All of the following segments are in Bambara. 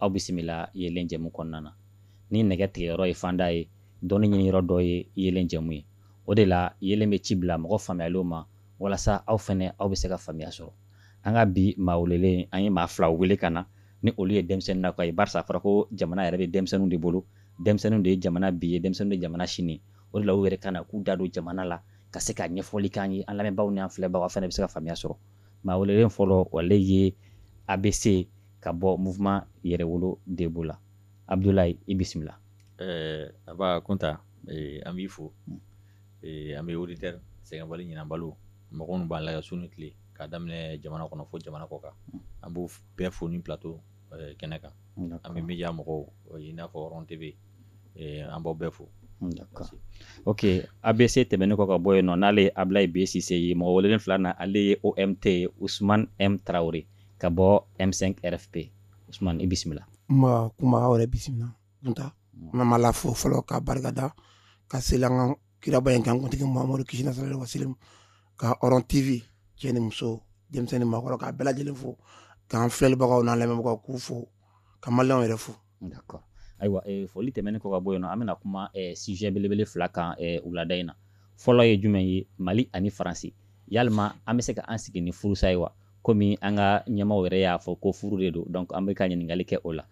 aw bisimila yelen jɛmu kɔnɔna na ni nɛgɛ tigɛ yɔrɔ ye fanda ye dɔnni ɲini yɔrɔ dɔ ye yelen jɛmu ye o de la yelen bɛ ci bila mɔgɔ faamuyaliw ma walasa aw fana aw bɛ se ka faamuya sɔrɔ an ka bi maa welelen an ye maa fila wele ka na ni olu ye denmisɛnnin na ka ye barisa fɔra ko jamana yɛrɛ bɛ denmisɛnninw de bolo denmisɛnninw de ye jamana bi ye denmisɛnninw de jamana sini o de la u yɛrɛ ka na k'u da don jamana la ka se ka ɲɛfɔli k'an ye an lamɛnbaaw ni an filɛbagaw fana bɛ se ka faamuya sɔrɔ maa welelen fɔlɔ ale ye abc ka bɔ mouvement yɛrɛwolo debout la abudulayi i bisimila eh, nba Kunta eh, an b'i fo hmm. eh, an bɛ auditeur sɛgɛnbali ɲinabaliw mɔgɔ minnu b'an lajɛ su ni tile k'a daminɛ jamana kɔnɔ fo jamana kɔkan hmm. an b'u bɛɛ fo nin plateau kɛnɛ kan an bɛ media mɔgɔw i n'a fɔ Hɔrɔn TV an b'aw bɛɛ fo D'accord. Ok, ABC tɛmɛnen kɔ ka bɔ yen nɔ n'ale ye Ablaye B Sise ye mɔgɔ welelen filanan ale ye OMT ye Ousmane M Traore ka bɔ M5 RFP Ousmane i bisimila ma kuma aw yɛrɛ bisimila Kunta n bɛ Ma Ala fo fɔlɔ ka barika da ka seli an ka kiraba in kan kuntigi Muhamadu kisi n'a sallallahu wa sallam ka Hɔrɔn TV cɛ ni muso denmisɛnnin maakɔrɔ k'a bɛɛ lajɛlen fo k'an filɛlibagaw n'an lamɛnbagaw k'u fo ka Mali yɛrɛ fo ayiwa foli tɛmɛnen kɔ ka bɔ yen na an bɛna kuma sujet belebele fila kan wulada in na fɔlɔ ye jumɛn ye mali ani faransi yala an bɛ se ka an sigi ni furusa ye wa kɔmi an ka ɲɛmaa yɛrɛ y'a fɔ ko furu de don donc an bɛ ka ɲininkali kɛ o la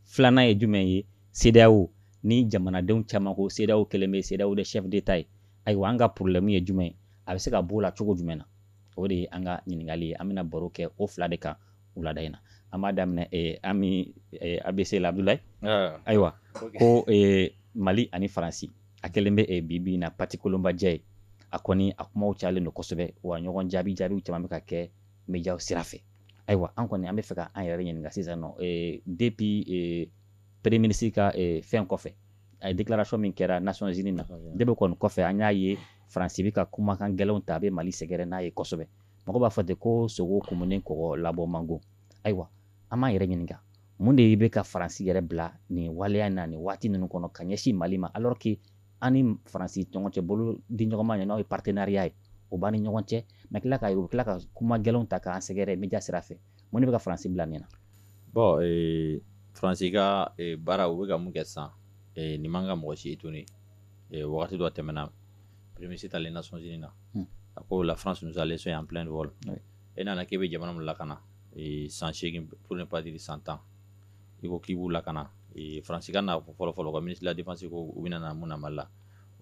filanan ye jumɛn ye CEDEAO ni jamanadenw caman ko CEDEAO kɛlen bɛ CEDEAO des chefs d'État ye ayiwa an ka problème ye jumɛn ye an bɛ se ka bɔ a la cogo jumɛn na o de ye an ka ɲininkali ye an bɛna baro kɛ o fila de kan wulada in na an b'a daminɛ eh, an mi eh, abc la abdulayi ah. ayiwa ko eh, mali ani faransi a kɛlen bɛ eh, bi bi in na pati kolonbajɛ ye a kɔni a kumaw cayalen don kosɛbɛ wa ɲɔgɔn jaabi jaabiw caman bɛ ka kɛ mediyaw sira fɛ ayiwa an kɔni an bɛ fɛ ka an yɛrɛ ɲininka sisan nɔ eh, depuis eh, premier ministre ka eh, fɛn kɔfɛ a ye déclaration min kɛra nations unies na depuis kɔni kɔfɛ an y'a ye faransi bɛ ka kumakan gɛlɛnw ta a bɛ mali sɛgɛrɛ n'a ye kosɛbɛ mɔgɔ b'a fɔ ten ko sogo kumunen kɔgɔ labɔ man go ayiwa an b'an yɛrɛ ɲininka mun de bɛ ka faransi yɛrɛ bila nin waleya na nin waati ninnu kɔnɔ ka ɲɛsin mali ma alors que an ni faransi ɲɔgɔn cɛ bolo di ɲɔgɔnma ye n'o ye partenariat ye o b'an ni ɲɔgɔn cɛ mais tila ka u tila ka kuma gɛlɛnw ta k'an sɛgɛrɛ media sira fɛ mun de bɛ ka faransi bila nin na bon eh, faransi ka eh, baara u bɛ ka min kɛ sisan eh, nin man ka mɔgɔ si étonner wagati dɔ tɛmɛna Premier ministre taalen Nations unies na a ko la France nous a laissés en plein de vol e nana k'i bɛ jamana min lakana san segin pour ne pas dire san tan i ko k'i b'u lakana faransi ka na fɔlɔ fɔlɔ ka ministre de la défense ko u bɛna na mun na Mali la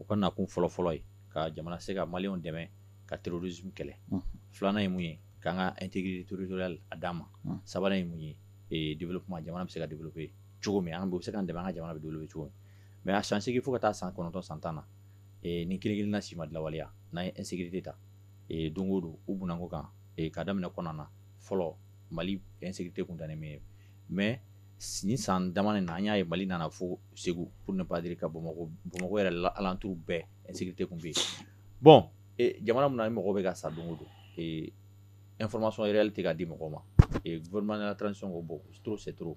u ka nakun fɔlɔ fɔlɔ ye ka jamana se ka maliw dɛmɛ ka terrorisme kɛlɛ filanan ye mun ye k'an ka intégrité territoriale d'an ma sabanan ye mun ye développement jamana bɛ se ka développé cogo min an bɛ se ka dɛmɛ an ka jamana bɛ développé cogo min a san segin fo ka taa san kɔnɔntɔn san tan na ni kelen na si ma lawaleya n'a ye ese de ta don o don u bko kan ka daminɛ kɔnɔna na fɔlɔ mali ese tɛ kun tananimi ye mɛ sin san da in na an y'a ye mali nana fo segu p baadiri ka bamakɔ bamakɔ yɛrɛ la alatu bɛɛ ese tɛ tun bɛ yen bɔn jamana min mɔgɔ bɛ ka sa don don nfma sɔn yɛrɛli tɛ k' di mɔgɔ ma v tran sɔn ko bɔn setouru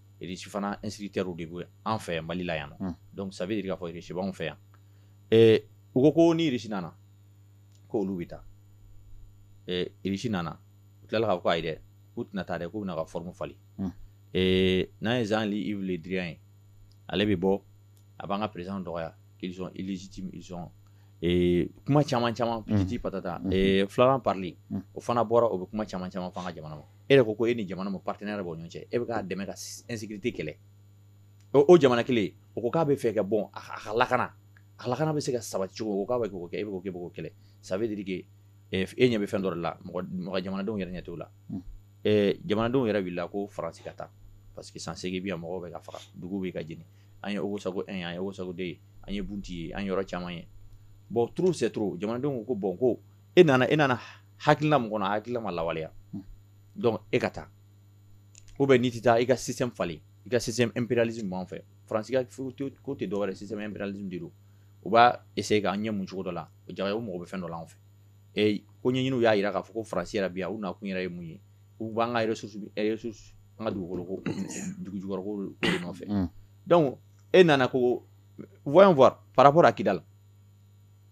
risi fana instructeurs de bɛ an fɛ yan Mali la yan donc ça veut dire k'a fɔ irisi b'anw fɛ yan u ko ko n'irisi nana ko olu bɛ taa risi nana u tilala ka k'a ye dɛ u tɛna taa dɛ k'u bɛna ka forme falen n'a ye Jean-Yves Le Drian ale bɛ bɔ a b'an ka président dɔgɔya k'isɔn kuma caman caman patati patata Florence Parly o fana bɔra o bɛ kuma caman caman fɔ an ka jamana ma e yɛrɛ ko ko e ni jamana min partenariat b'aw ni ɲɔgɔn cɛ e bɛ k'a dɛmɛ ka insécurité kɛlɛ ɔ o jamana kelen o ko k'a b'a fɛ ka bon a ka lakana a ka lakana bɛ se ka sabati cogo min o ko k'a bɛ k'o kɛ e bɛ k'o kɛ e bɛ k'o kɛlɛ ça veut dire que e ɲɛ bɛ fɛn dɔ de la mɔgɔ mɔgɔ jamanadenw yɛrɛ ɲɛ t'o la jamanadenw yɛrɛ wulila ko France ka taa parce que san seegin bi yan mɔgɔw bɛ ka faga duguw bɛ ka jeni an ye Ogosago 1 ye an ye Ogosago 2 ye an ye Bunti ye an ye yɔrɔ caman ye bon trop c'est trop jamanadenw ko ko bon ko e nana e nana hakilila min kan a hakilila ma lawaleya donc e ka taa ou bien n'i tɛ taa i ka système falen i ka système impérialisme b'an fɛ faransi ka ko tɛ dɔwɛrɛ système impérialisme de don u b'a essayer k'an ɲɛ mun cogo dɔ la o jaga o mako bɛ fɛn dɔ la an fɛ i ko ɲɛɲiniw y'a jira k'a fɔ ko faransi yɛrɛ bi yan u nakun yɛrɛ ye mun ye u b'an ka ressource ressource an ka dugukolo ko dugu jukɔrɔ ko de nɔfɛ donc e nana ko voyons voir par rapport à Kidal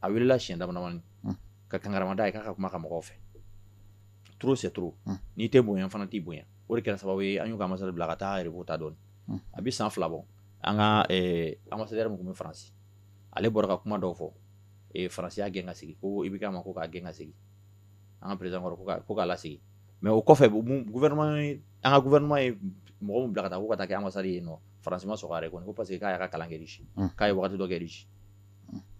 a weelela siɲɛ damadama ka kankarimada a ye k'a ka kuma ka mɔgɔw fɛ t sɛuru n'i tɛ bonya fana t'i bonya o de kɛra sababu ye an ka ambassadeur bila ka taa yɛrɛ t'a dɔn a bɛ san fila bɔ an ka ambassadeur yɛrɛ bɛ faransi ale bɔra ka kuma dɔw fɔ faransi y'a gɛn ka segin ko IBK ma ko k'a gɛn ka segin an ka président kɔrɔ ko k'a segin mais o kɔfɛ an ka gouvernement ye mɔgɔ min bila ka taa ko ka taa kɛ ambassadeur ye nɔ faransi ma sɔn o yɛrɛ kɔnɔ ko parce que k'a y'a ka kalan kɛ k'a ye waati dɔ kɛ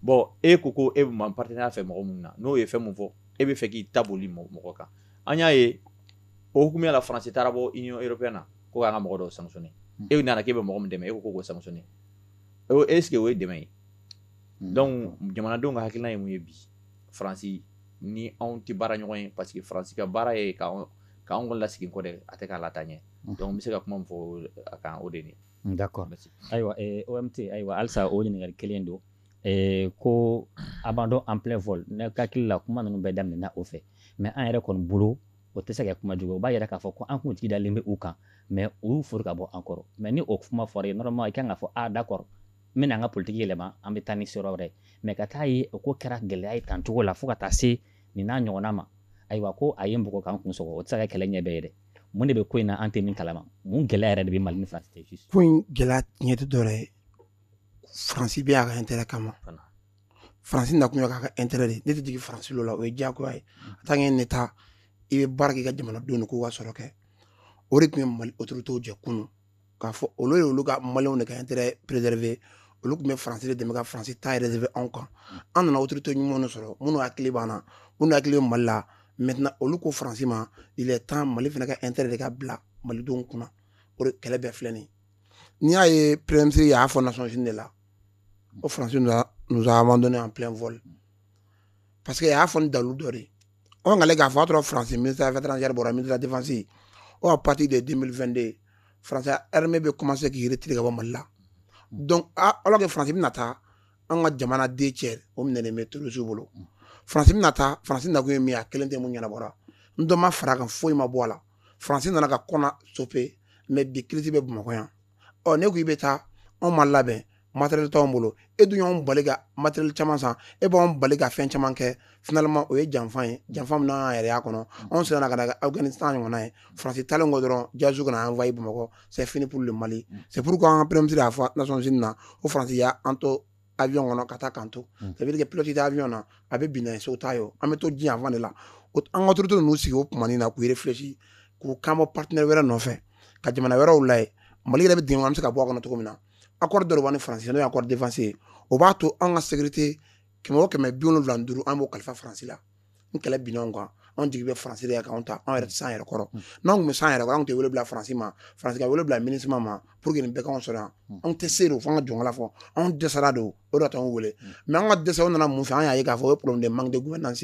bon e ko ko e bɛ partenariat fɛ mɔgɔ min na n'o ye fɛn min fɔ e bɛ fɛ k'i ta boli mɔgɔ kan an y'a ye o tuma la faransi taara bɔ union européenne ko an ka mɔgɔ dɔ san e nana k'i bɛ mɔgɔ min dɛmɛ e ko ko sanction sigi o ye dɛmɛ ye donc jamanadenw ka hakilina ye mun ye bi faransi ni anw tɛ baara ɲɔgɔn ye parce que faransi ka baara ye' k'an ka lasegin kɔ dɛ a tɛ k'an la ɲɛ donc bɛ se ka kuma fɔ a kan o de d'accord ayiwa o ayiwa halisa o ɲininkakali kelen don ko abandon en plein vol n ka hakili la kuma ninnu bɛɛ daminɛna o fɛ mɛ an yɛrɛ kɔni bolo o tɛ se ka kuma jugu o b'a yira k'a fɔ ko an kun jigi dalen bɛ u kan mɛ u foori ka bɔ an kɔrɔ mɛ ni o kuma fɔra yen normalement i kan k'a fɔ a d'accord n bɛna an ka politigi yɛlɛma an bɛ taa ni s wɛrɛ mɛ ka taa ye o ko kɛra gɛlɛya ye tan cogo la fo ka taa se nin n'a ɲɔgɔn ma ayiwa ko a ye npogo kan kun sɔrɔ o tɛ se ka kɛlɛ ɲɛ bɛɛ ye dɛ mun de bɛ ko in na an tɛ min kalama mun gɛlɛya yɛrɛ de bɛ mali ni faransi cɛ juste ko in gɛlɛya tiɲɛ tɛ dɔwɛrɛ ye faransi bɛ yan a ka intérêt kama faransi nakun y'a ka intérêt de ne tɛ jigin faransi lo la o ye diyagoya ye en tant que un état i bɛ baara k'i ka jamanadenw de k'u ka sɔrɔ kɛ o de tun ye mali autorités jɛ kunun k'a fɔ olu ye olu ka maliw de ka intérêt préserver olu tun bɛ faransi de dɛmɛ ka faransi ta réserver anw kan an nana autorité ɲumanw de sɔrɔ minnu hakili b'an na minnu hakili bɛ mali la maintenant olu ko faransi ma il est temps mali fana ka intérêt de ka bila malidenw kunna o de kɛlɛ bɛɛ filɛ nin n'i y'a ye premier ministre y'a fɔ nations unies de la ko faransi nous a abandonné en plein vol parce que a y'a fɔ ni dalilu dɔ de ye ɔ nkale k'a fɔ a sɔrɔ faransi ministre affaires étrangères bɔra ministre défense ɔ à partir de 2022 faransi armée bɛ commencé k'i retirer ka bɔ mali la donc alors que faransi bɛna taa an ka jamana deux tiers o minɛlen bɛ terrorisiw bolo faransi bɛna taa faransi nakun ye min ye a kelen tɛ min ɲɛnabɔra ni dɔ ma fara a kan foyi ma bɔ a la faransi nana ka konna sauver mɛ bi insécurité bɛ bamakɔ yan ɔ ne ko i bɛ taa anw ma labɛn matériel t'anw bolo e dun y'anw bali ka matériel caman san e b'anw bali ka fɛn caman kɛ finalement o ye janfa ye janfa min n'an yɛrɛ y'a kɔnɔ anw siranna kana kɛ afghanistan ɲɔgɔnna ye faransi taalen kɔ dɔrɔn djihadistes kana envahir bamakɔ c'est fini pour le mali c'est pourquoi an ka premier ministre y'a fɔ nations unies na ko faransi y'an to avion kɔnɔ ka taa k'an to ça veut dire que pilote tɛ avion na a bɛ bin na ye so t'a ye o an bɛ to diɲɛ fan de la o an ka autorité ninnu sigi o tumanin na k'u réfléchi k'u ka bɔ partenaire wɛrɛ nɔfɛ ka jamana wɛrɛw lajɛ mali yɛrɛ bɛ dingɛ kɔnɔ an bɛ se ka bɔ a kɔnɔ cogo min na accord dɔ b'an ni faransi n'o accord défense o b'a to an ka sécurité kɛmɛ kɛmɛ biwolonwula duuru an b'o kalifa faransi la ni kɛlɛ binna anw kan anw jigi bɛ faransi ye anw tɛ anw yɛrɛ s'an yɛrɛ kɔrɔ n'an tun bɛ s'an yɛrɛ anw tɛ wele bila faransi ma faransi wele bila minusma ma pour que bɛ anw sɔrɔ anw tɛ se o fo ka jɔn fɔ anw dɛsɛra don o anw wele mɛ an ka dɛsɛ nana mun fɛ an y'a ye k'a fɔ o problème de gouvernance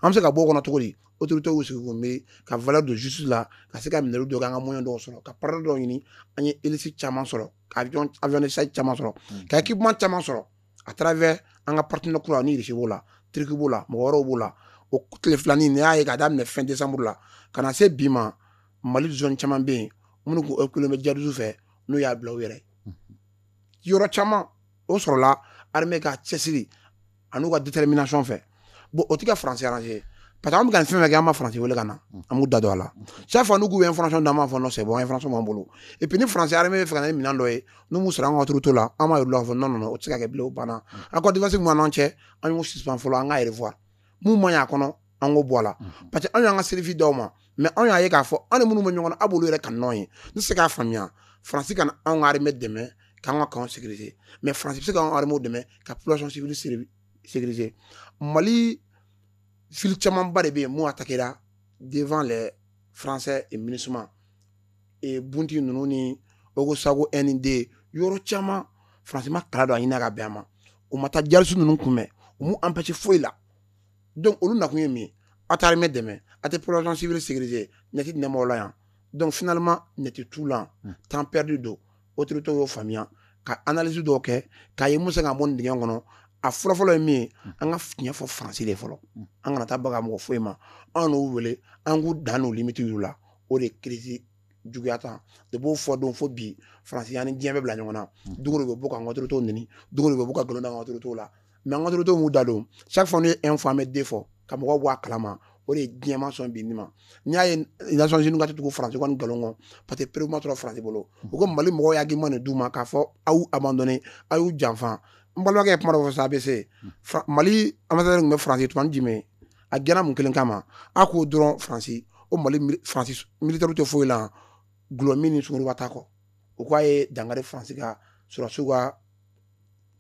an bɛ se ka bɔ kɔnɔ cogo di autorités sigi kun bɛ ka vlɛ don su la ka se ka minɛli don an ka moyen dɔw sɔrɔ ka pan dɔw ɲini an ye esi caman sɔrɔ ka char caman sɔrɔ ka équipement caman sɔrɔ a taara an ka partenaire kura russie b'o la turquie b'o la mɔgɔ wɛrɛw b'o la o tile filanin nin y'a ye ka daminɛ fɛn desanburu la ka na se bi ma mali zone caman bɛ yen minnu kun bɛ djihadistes fɛ n'u y'a bila u yɛrɛ yɔrɔ caman o sɔrɔla armée ka cɛsiri an'u ka détermination fɛ bon o tigɛ faransi ye parce que an bɛ ka fɛn kɛ an ma faransi wele ka na an m'u da don a la sa fa n'u ye information d'a ma fɔ sɛ bɔ an fana sɔn bolo et puis ni faransi bɛ fɛ ne minɛn dɔ ye n'u mu sera an ka territoire la an ma la fɔ nɔnɔ o tɛ se ka kɛ bila banna an ka défense ɲɔgɔn cɛ an y'u suspendre fɔlɔ an k'a revoir mun ma y'a kɔnɔ an ko bɔ a la mhm. parce que anw y'an ka service d'aw ma mɛ anw y'a ye k'a fɔ anw ni minnu bɛ ɲɔgɔn na a b'olu yɛrɛ ka nɔn ye ne bɛ se k'a faamuya faransi kana anw ka armée dɛmɛ k'an ka camps sécuriser mɛ faransi bɛ se k'an ka armée dɛmɛ ka population civile sécuriser mali ville camanba de bɛ yen mun atakera devant les français et minusma et bunti ninnu ni ogosago ani yɔrɔ caman faransi b'a kalama don a ɲinina ka bɛn a ma u ma taa djihadistes ninnu kunbɛn u m'u empêcher foyi la dɔn olu nakun ye min a taara mɛn dɛmɛ a tɛ psibiri sigize neti nɛma la yan dɔn fanama neti tu la hmm. tan pɛri don o totɔ y'o faamuya ka alaz dɔw kɛ k'a ye musa ka bɔ dgɛ kɔnɔ a fɔlɔfɔlɔ ye min ye hmm. an ka fiɲɛyɛn fɔ fanransi de fɔlɔ hmm. an kana taa bagan mɔgɔ foyi ma anw n'u wele an k'u dan n'u limiti la o de ye kiirisi juguya tan de b'o fɔ don fo bi faransi y'an ni diɲɛ bɛɛ bila ɲɔgɔn na hmm. dugu de bɛ bɔ k'an ka autorités nɛni dugu de bɛ bɔ ka gɛlɛn an ka autorités la mɛ an ka autorités m'u da don chaque fois ne un fan bɛ de fɔ ka mɔgɔw bɔ a kalama o de ye diɲɛ ma sɔn bi ni ma n'i y'a ye nations unies k'a tɛ tugu faransi ka nin nkalon kɔ parce que preuve ma sɔrɔ faransi bolo hmm. u ko mali mɔgɔw ye argument nin d'u ma k'a fɔ aw y'u abandonné aw y'u janfa n balimakɛ ye kuma dɔ fɔ sa a bɛ se hmm. mali ambassadeur tun bɛ faransi toumani djimé a gɛnna mun kelen kama a ko dɔrɔn faransi o mali faransi militɛriw tɛ foyi la dɔlɔmin ni sungurunba ta kɔ u k'a ye dankari faransi ka sɔrɔdasiw ka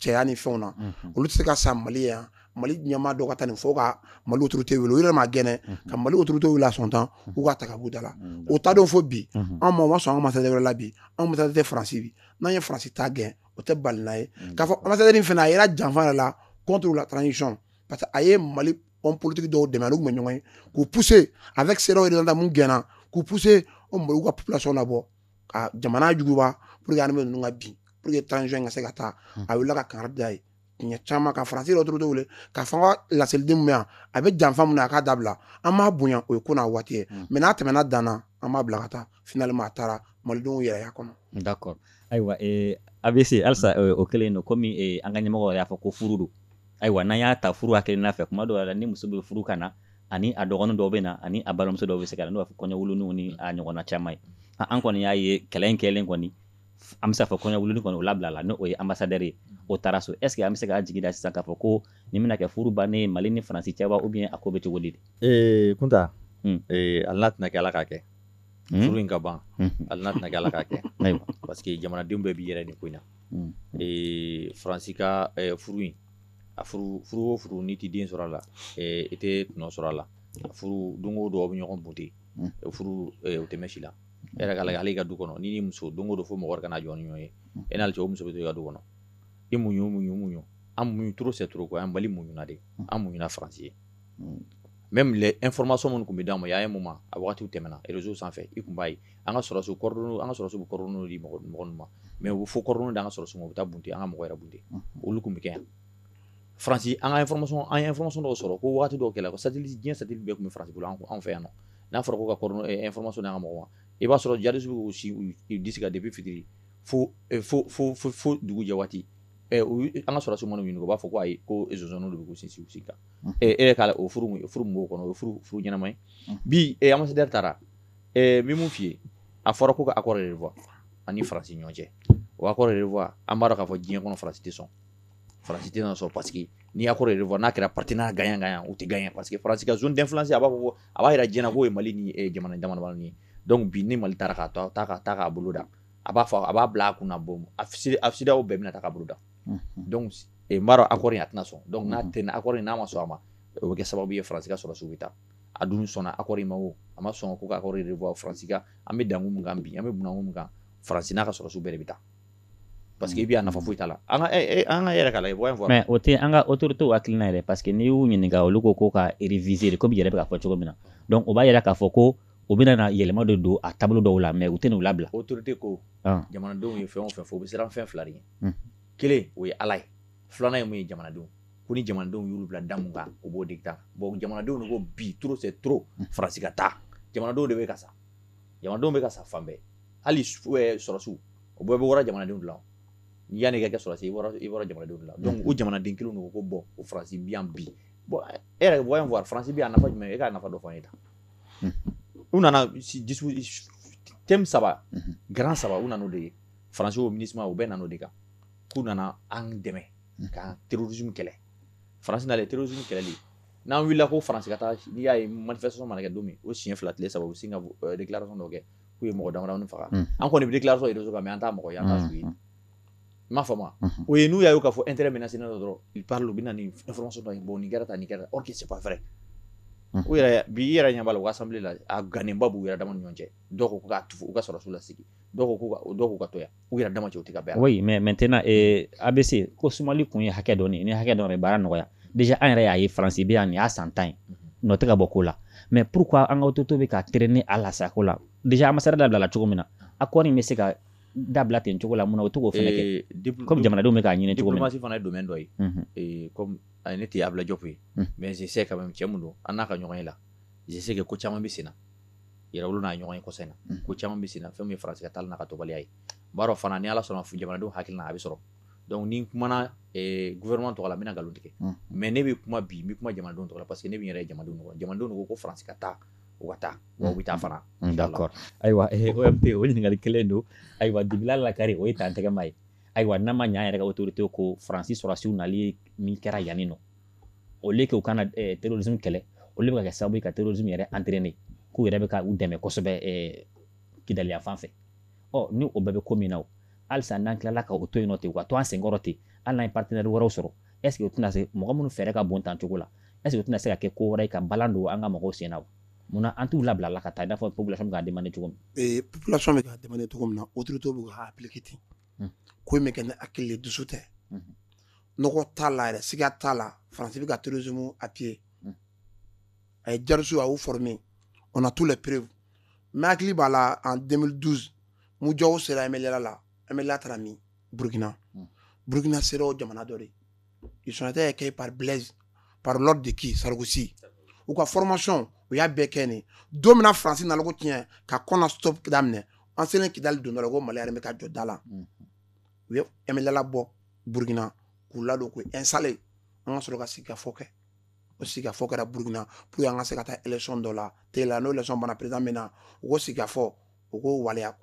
cɛya ni fɛnw na mhm. olu tɛ se ka sa mali yan mali ɲɛmaa dɔ ka taa nin fɔ ka mali autorités wele u yɛrɛ ma gɛn mhm. ka mali autorités wele a sɔn tan mhm. u k'a ta k'a b'u da la o ta donc fo bi anw ma o ma sɔn an ka ambassadeur wɛrɛ la bi anw ambassadeur tɛ faransi bi n'an ye faransi ta gɛn o tɛ balina ye k'a fɔ ambassadeur fana a yɛrɛ janfa yɛrɛ la contre la transition parce que a ye mali homme politique dɔw dɛmɛ a n'olu tun bɛ ɲɔgɔn ye k'u pousser avec cedeao représentant mun gɛnna k'u pousser o maliw ka population labɔ ka jamana juguba pour que armée ninnu ka bin pour que transition ka se ka taa hmm. a wulila ka kangari da a ye siɲɛ caman ka faransi yɛrɛ autorités wele k'a fɔ u ka laseliden mun bɛ yan a bɛ janfa mun na a k'a dabila an b'a bonya o ye ko n'a waati ye mɛ n'a tɛmɛna dan na an b'a bila ka taa finalement a taara malidenw yɛrɛ y'a kɔnɔ d'accord ayiwa a bɛ se halisa o kɛlen don kɔmi an ka ɲɛmɔgɔ y'a fɔ ko furu don ayiwa n'an y'a ta furu angle fɛ kuma dɔw la ni muso bɛ furu ka na ani a dɔgɔnin dɔw bɛ na ani a balimamuso dɔw bɛ se ka na n'o fɔ kɔɲɔwuluniw ni a ɲɔgɔnna caman ye an kɔni y'a ye kɛlɛ in kɛlen kɔni an bɛ se k'a fɔ kɔɲɔwuluni kɔni o labilala n'o ye anbasadɛri ye o taara so est-ce que an bɛ se k'a jigi da sisan k'a fɔ ko nin bɛna kɛ furu ban ye mali ni faransi cɛ wa ou bien a ko bɛ cogo di ee kunta hali n'a tɛna kɛ ala k'a kɛ Hmm? furu in ka ban hmm. hali n'a tɛna kɛ ala k'a kɛ parce que jamanadenw bɛɛ b'i yɛrɛ ɲini ko in na hmm. faransi ka furu in a furu o furu n'i tɛ den sɔrɔ a la i tɛ tɔnɔ sɔrɔ a la a furu don o don aw bɛ ɲɔgɔn bote furu o tɛ mɛn si la e yɛrɛ ka lajɛ hali i ka du kɔnɔ n'i ni muso don o don fo mɔgɔ ka na jɔ ni ɲɔgɔn ye e n'ale cɛ o muso bɛ to i ka du kɔnɔ i muɲu muɲu muɲu an muɲu trop c'est trop quoi an mali muɲuna de an muɲuna faransi ye même les informations minnu tun bɛ d'aw ma y'a ye moment a waatiw tɛmɛna réseau sanfɛ i tun b'a ye an ka sɔrɔdasiw an ka sɔrɔdasiw kɔrɔ di mɔgɔ mɔgɔ ma mɛ u fo kɔrɔɔrɔn an ka sɔrɔdasi minnu bɛ taa bunte an ka mɔgɔ yɛrɛbu olu tun bɛ kɛ yan faransi an information dɔw sɔrɔ ko waati dɔw kɛlɛ ko sati diɲɛ satellite tun bɛ faransi bolo an fɛ yan n'a fɔra ko kamuso n' ka mɔgɔ ma i b'a sɔrɔ jasiw si di ka de bɛ fitiri fo fo dugu jɛ waati an ka sɔrɔdasiw bɛ yɔrɔ min u b'a fɔ ko ayi ko zone de bɛ' sinsin kan e yɛrɛ k'a lajɛ o furu furu b'o kɔnɔ o furu furu ɲɛnama ye bi anbasadɛri taara bi min f'i ye a fɔra ko ka accord revoir an ni faransi ɲɔgɔn cɛ o y'accord revoir an b'a dɔn k'a fɔ diɲɛ kɔnɔ faransi tɛ sɔn faransi tɛ sɔn parce que n'i y'accord revoir n'a kɛra partenariat gagnant gagnant u tɛ gagner parce que faransi ka zone d'influence a b'a fɔ a b'a jira diɲɛ na ko ye mali ni jamana jamana ye dɔnku bi ni mali taara k'a to ta ka taa k'a boloda a b'a fɔ a b'a bila a kun bɔ a a bɛɛ bɛna ta ka boloda dɔnku accord a tɛna sɔn dɔnku n'a tɛ accord n'a ma sɔn a ma o bɛ kɛ sababu ye faransi ka sɔrɔdasiw ka taa a dun sɔnna accord ma o a ma sɔn ko faransi an bɛ da min kan bi an bɛ min kan faransi n'a ka sɔrɔdasi bɛɛ bɛ taa parce que i bɛ' nafa foyi ta la an ka yɛrɛ ka la mais o tɛ an ka autoritéw hakili na yɛrɛ parce que n'i y'u ɲininka olu ko ko ka réviser ko yɛrɛ bɛ ka fɔ cogo min na o b'a yira k'a fɔ ko u bɛna na yɛlɛma de don a taabolo dɔw la mais u tɛna n'u labila autoritéw ko jamanadenw ye fɛn fɛ fo u bɛ siran fɛn fila ɲɛ kelen o ye ala ye filanan ye mun ye jamanadenw kɔni jamanadenw y'u bila da min kan u b'o de ta bon jamanadenw de ko bi trop c'est trop faransi ka taa jamanadenw de bɛ ka sa jamanadenw bɛ ka sa fan bɛɛ hali sɔrɔdasiw o bɛɛ bɛ bɔ jamanadenw la yanni i ka kɛ sɔrɔdasi ye i bɔra jamanadenw la dɔnku jamanaden kelen don ko bon faransi bi bi bon e yɛrɛ b'a fɔ faransi bi a nafa jumɛn e ka nafa dɔ fɔ n ye ta u nana te saba garan saba u nana' de ye France wo Minusma u bɛ na de kan k'u nana an dɛmɛ ka terrorisme kɛlɛ faralen terrorisme kɛlɛli n'an wulila ko Faransi ka taa n'i y'a ye manifestation mana kɛ don min o siɲɛ fila tile saba u sin ka déclaration dɔ kɛ k'u ye mɔgɔ dama faga an kɔni bɛ déclaration yɛrɛ dɔn an taa mɔgɔ yan ye n m'a fa ma o ye n'u y' ka fɔ e teri minɛ sin dɔrɔn i taara u bɛ na nimuso dɔ bɔ ni kɛra tan ni kɛra o kisi fɛɛrɛ u yɛrɛ bi i yɛrɛ ɲɛ b'a la France la a débat b'u yɛrɛ dama ɲɔgɔn cɛ dɔw ko k'a tufu u ka sɔrɔdasiw lasegin dɔw ko k'u ka dɔw k'u ka to yan u yɛrɛ dama cɛ u tɛ ka bɛn a la. oui mais maintenant ee ABC ko sumanni kun ye hakɛ dɔnni ni hakɛ dɔnni baara nɔgɔya déjà an yɛrɛ y'a ye Faransi bɛ yan nin y'a san tan ye mhm. nɔ tɛ ka bɔ ko la mais pourquoi an ka autorité bɛ ka traîner a la sa ko la déjà ambassade dabilala cogo min na ah. accord in bɛ se ka dabila ten cogo la mun na u tɛ k'o fana kɛ euh, comme jamanadenw bɛ k'a ɲini cogo min na. diplomasi fana ye domaine dɔ ye mhm. euh, comme ah, ne tɛ Abdoulaye Diop ye mhm. mais je sais quand même cɛ mun don an n'a ka ɲɔgɔnye la je sais que ko caman bɛ sen na. yɛrɛ n'a ɲɔgɔnye ko sen na ko caman bɛ sen na fɛn min ye Faransi ka taali n'a ka taabaliya ye b'a dɔn fana ni ala sɔnna f jamanadenw hakili a bɛ sɔrɔ donc ni kuma gouvernement tɔgɔ la bɛna nkalon tigɛ mais ne bɛ kuma bi kuma jamanadenw tɔgɔ la parce que ne bɛ yɛrɛ jamanadenw ko Faransi ka taa u ka taa bɛ taa fana kɔrɔ ayiwa pe o ɲininkali kelen don ayiwa dibi la lakari o ye tan tɛgɛma ye ayiwa n'a ma ɲa yɛrɛ autorité ko faransi sɔrɔdasiw nali min kɛra yan nin nɔ au lieu que u ka na eh, terrorisme kɛlɛ olu bɛ ka kɛ sababu ye ka terrorisme yɛrɛ entraîner k'u yɛrɛ bɛ ka u dɛmɛ kosɛbɛ eh, Kidali yan fan fɛ ɔ ni o bɛɛ bɛ ko min na o halisa n'an tilala ka o to yen nɔ ten u ka to an senkɔrɔ ten hali n'an ye partenaire wɛrɛw sɔrɔ est ce que o tɛna se mɔgɔ minnu fɛɛrɛ ka bon tan cogo la est ce que o tɛna se ka kɛ ko wɛrɛ ye ka balan don an ka mɔgɔw sen na wa munna an t'u labila la ka taa i n'a fɔ population bɛ k'a demande cogo min eh, population bɛ k'a demande cogo min na autorité bɛ k'a appliquer ten hmm. ko in bɛ kɛ ni hakili dusu tɛ hmm. nɔgɔ t'a la yɛrɛ siga t'a la faransi bɛ ka terrorisme appuyer hmm. a ye djihadistes a y'u former on a tous les preuves n'i hakili b'a la en 2012 MUJAO sera MNLA la MNLA taara min Burkina hmm. Burkina sera o jamana dɔrɔn ils ont été accueillis par Blaise par l'ordre de qui Sarkozy u ka formation u y'a bɛɛ kɛ nin don min na faransi nana ko tiɲɛ ka Konna stop daminɛ an selen kidali don dɔ la ko mali armée ka jɔ da la hmm. u ye emla bɔ burukina k'u ladon ko e sale an ka sɔrɔ ka sika fɔ kɛ o sika fɔ kɛra burukina p an ka se ka taa esɔn dɔ la te la n'o lasɔn bana pereda min na u ko sika fɔ u ko waleya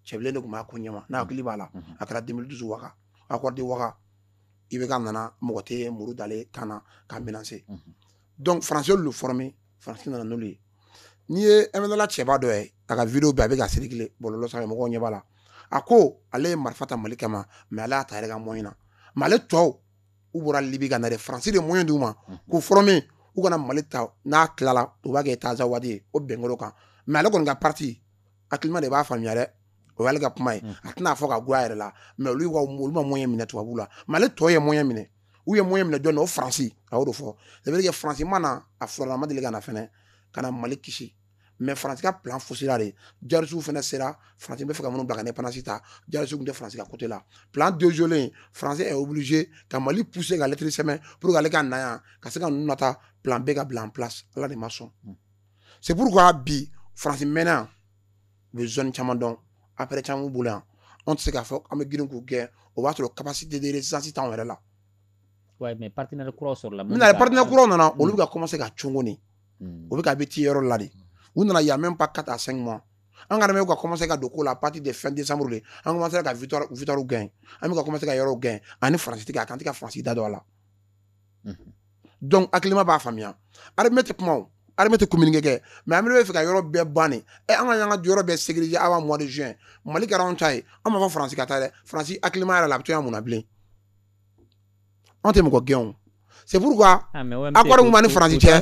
cɛ de tun b'a ko ɲɛ n'a hakili b'a la a kɛra denmisɛn dusu wa a ko di wa i bɛ ka nana mɔgɔ tɛ muru dalen tan na ka minɛn se donc faransi y'olu former faransi nana n'olu ye n'i ye MNLA cɛba dɔ ye a ka video bɛɛ a bɛ ka circuler bɔlɔlɔ sanfɛ mɔgɔw ɲɛ b'a la a ko ale ye marifa ta mali kama mais ale y'a ta yɛrɛ ka moyen na mais ale tɔw u bɔra libi ka na de faransi de moyen d'u ma k'u former u ka na mali ta n'a tilala u b'a kɛ Azawad ye o bɛnkoro kan mais ale kɔni ka parti hakilima de b'a faamuya dɛ o y'ale ka kuma ye a tɛna fɔ ka goya yɛrɛ la mais olu ka olu ma moyen minɛ tubabu la mais ale tɔ ye moyen minɛ u ye moyen minɛ jɔn na o faransi a y'o de fɔ ça veut dire que faransi ma na a faransi ma deli ka na fɛnɛ ka na mali kisi mais faransi ka plan fosira de jihadisiw fɛnɛ sera faransi bɛ fɛ ka minnu bila ka indépendance ta jihadisiw tun tɛ faransi ka côté la plan déjouélen faransi est obligé ka mali pousser ka lettre sɛbɛn pour que ale ka na yan ka se ka ninnu nata plan bɛ ka bila en place ala de ma sɔn c'est pourquoi bi faransi mɛnna u bɛ zone caman dɔn appareil caman b'u bolo yan anw tɛ se k'a fɔ an bɛ girin k'u gɛn o b'a sɔrɔ capacité de résistance t'anw yɛrɛ la. Wayi mais partenaires kuraw sɔrɔla. Min na partenaires kuraw nana olu bɛ ka commencer ka cogo nin u bɛ ka bɛ ci yɔrɔ la de u nana il y a même pas 4 à 5 mois an ka armée ka commencer ka don ko la à partir de fin décembre de an commencer ka victoire victoire gagner an bɛ ka commencer ka yɔrɔw gagner ani France tɛ ka a kan an tɛ ka France da don a la. donc hakilima b'a faamuya armée tɛ kuma o armée tɛ communiquer mais armée tun bɛ fɛ ka yɔrɔ bɛɛ ban ne ɛ an ka yan ka yɔrɔ bɛɛ sécuriser avant mois de juillet mali kɛra anw ta ye an ma fɔ faransi ka taa dɛ faransi hakilima yɛrɛ la a bɛ to mun bilen anw tɛ mɔgɔ gɛn c'est pourquoi ah, accord b'an ni faransi cɛ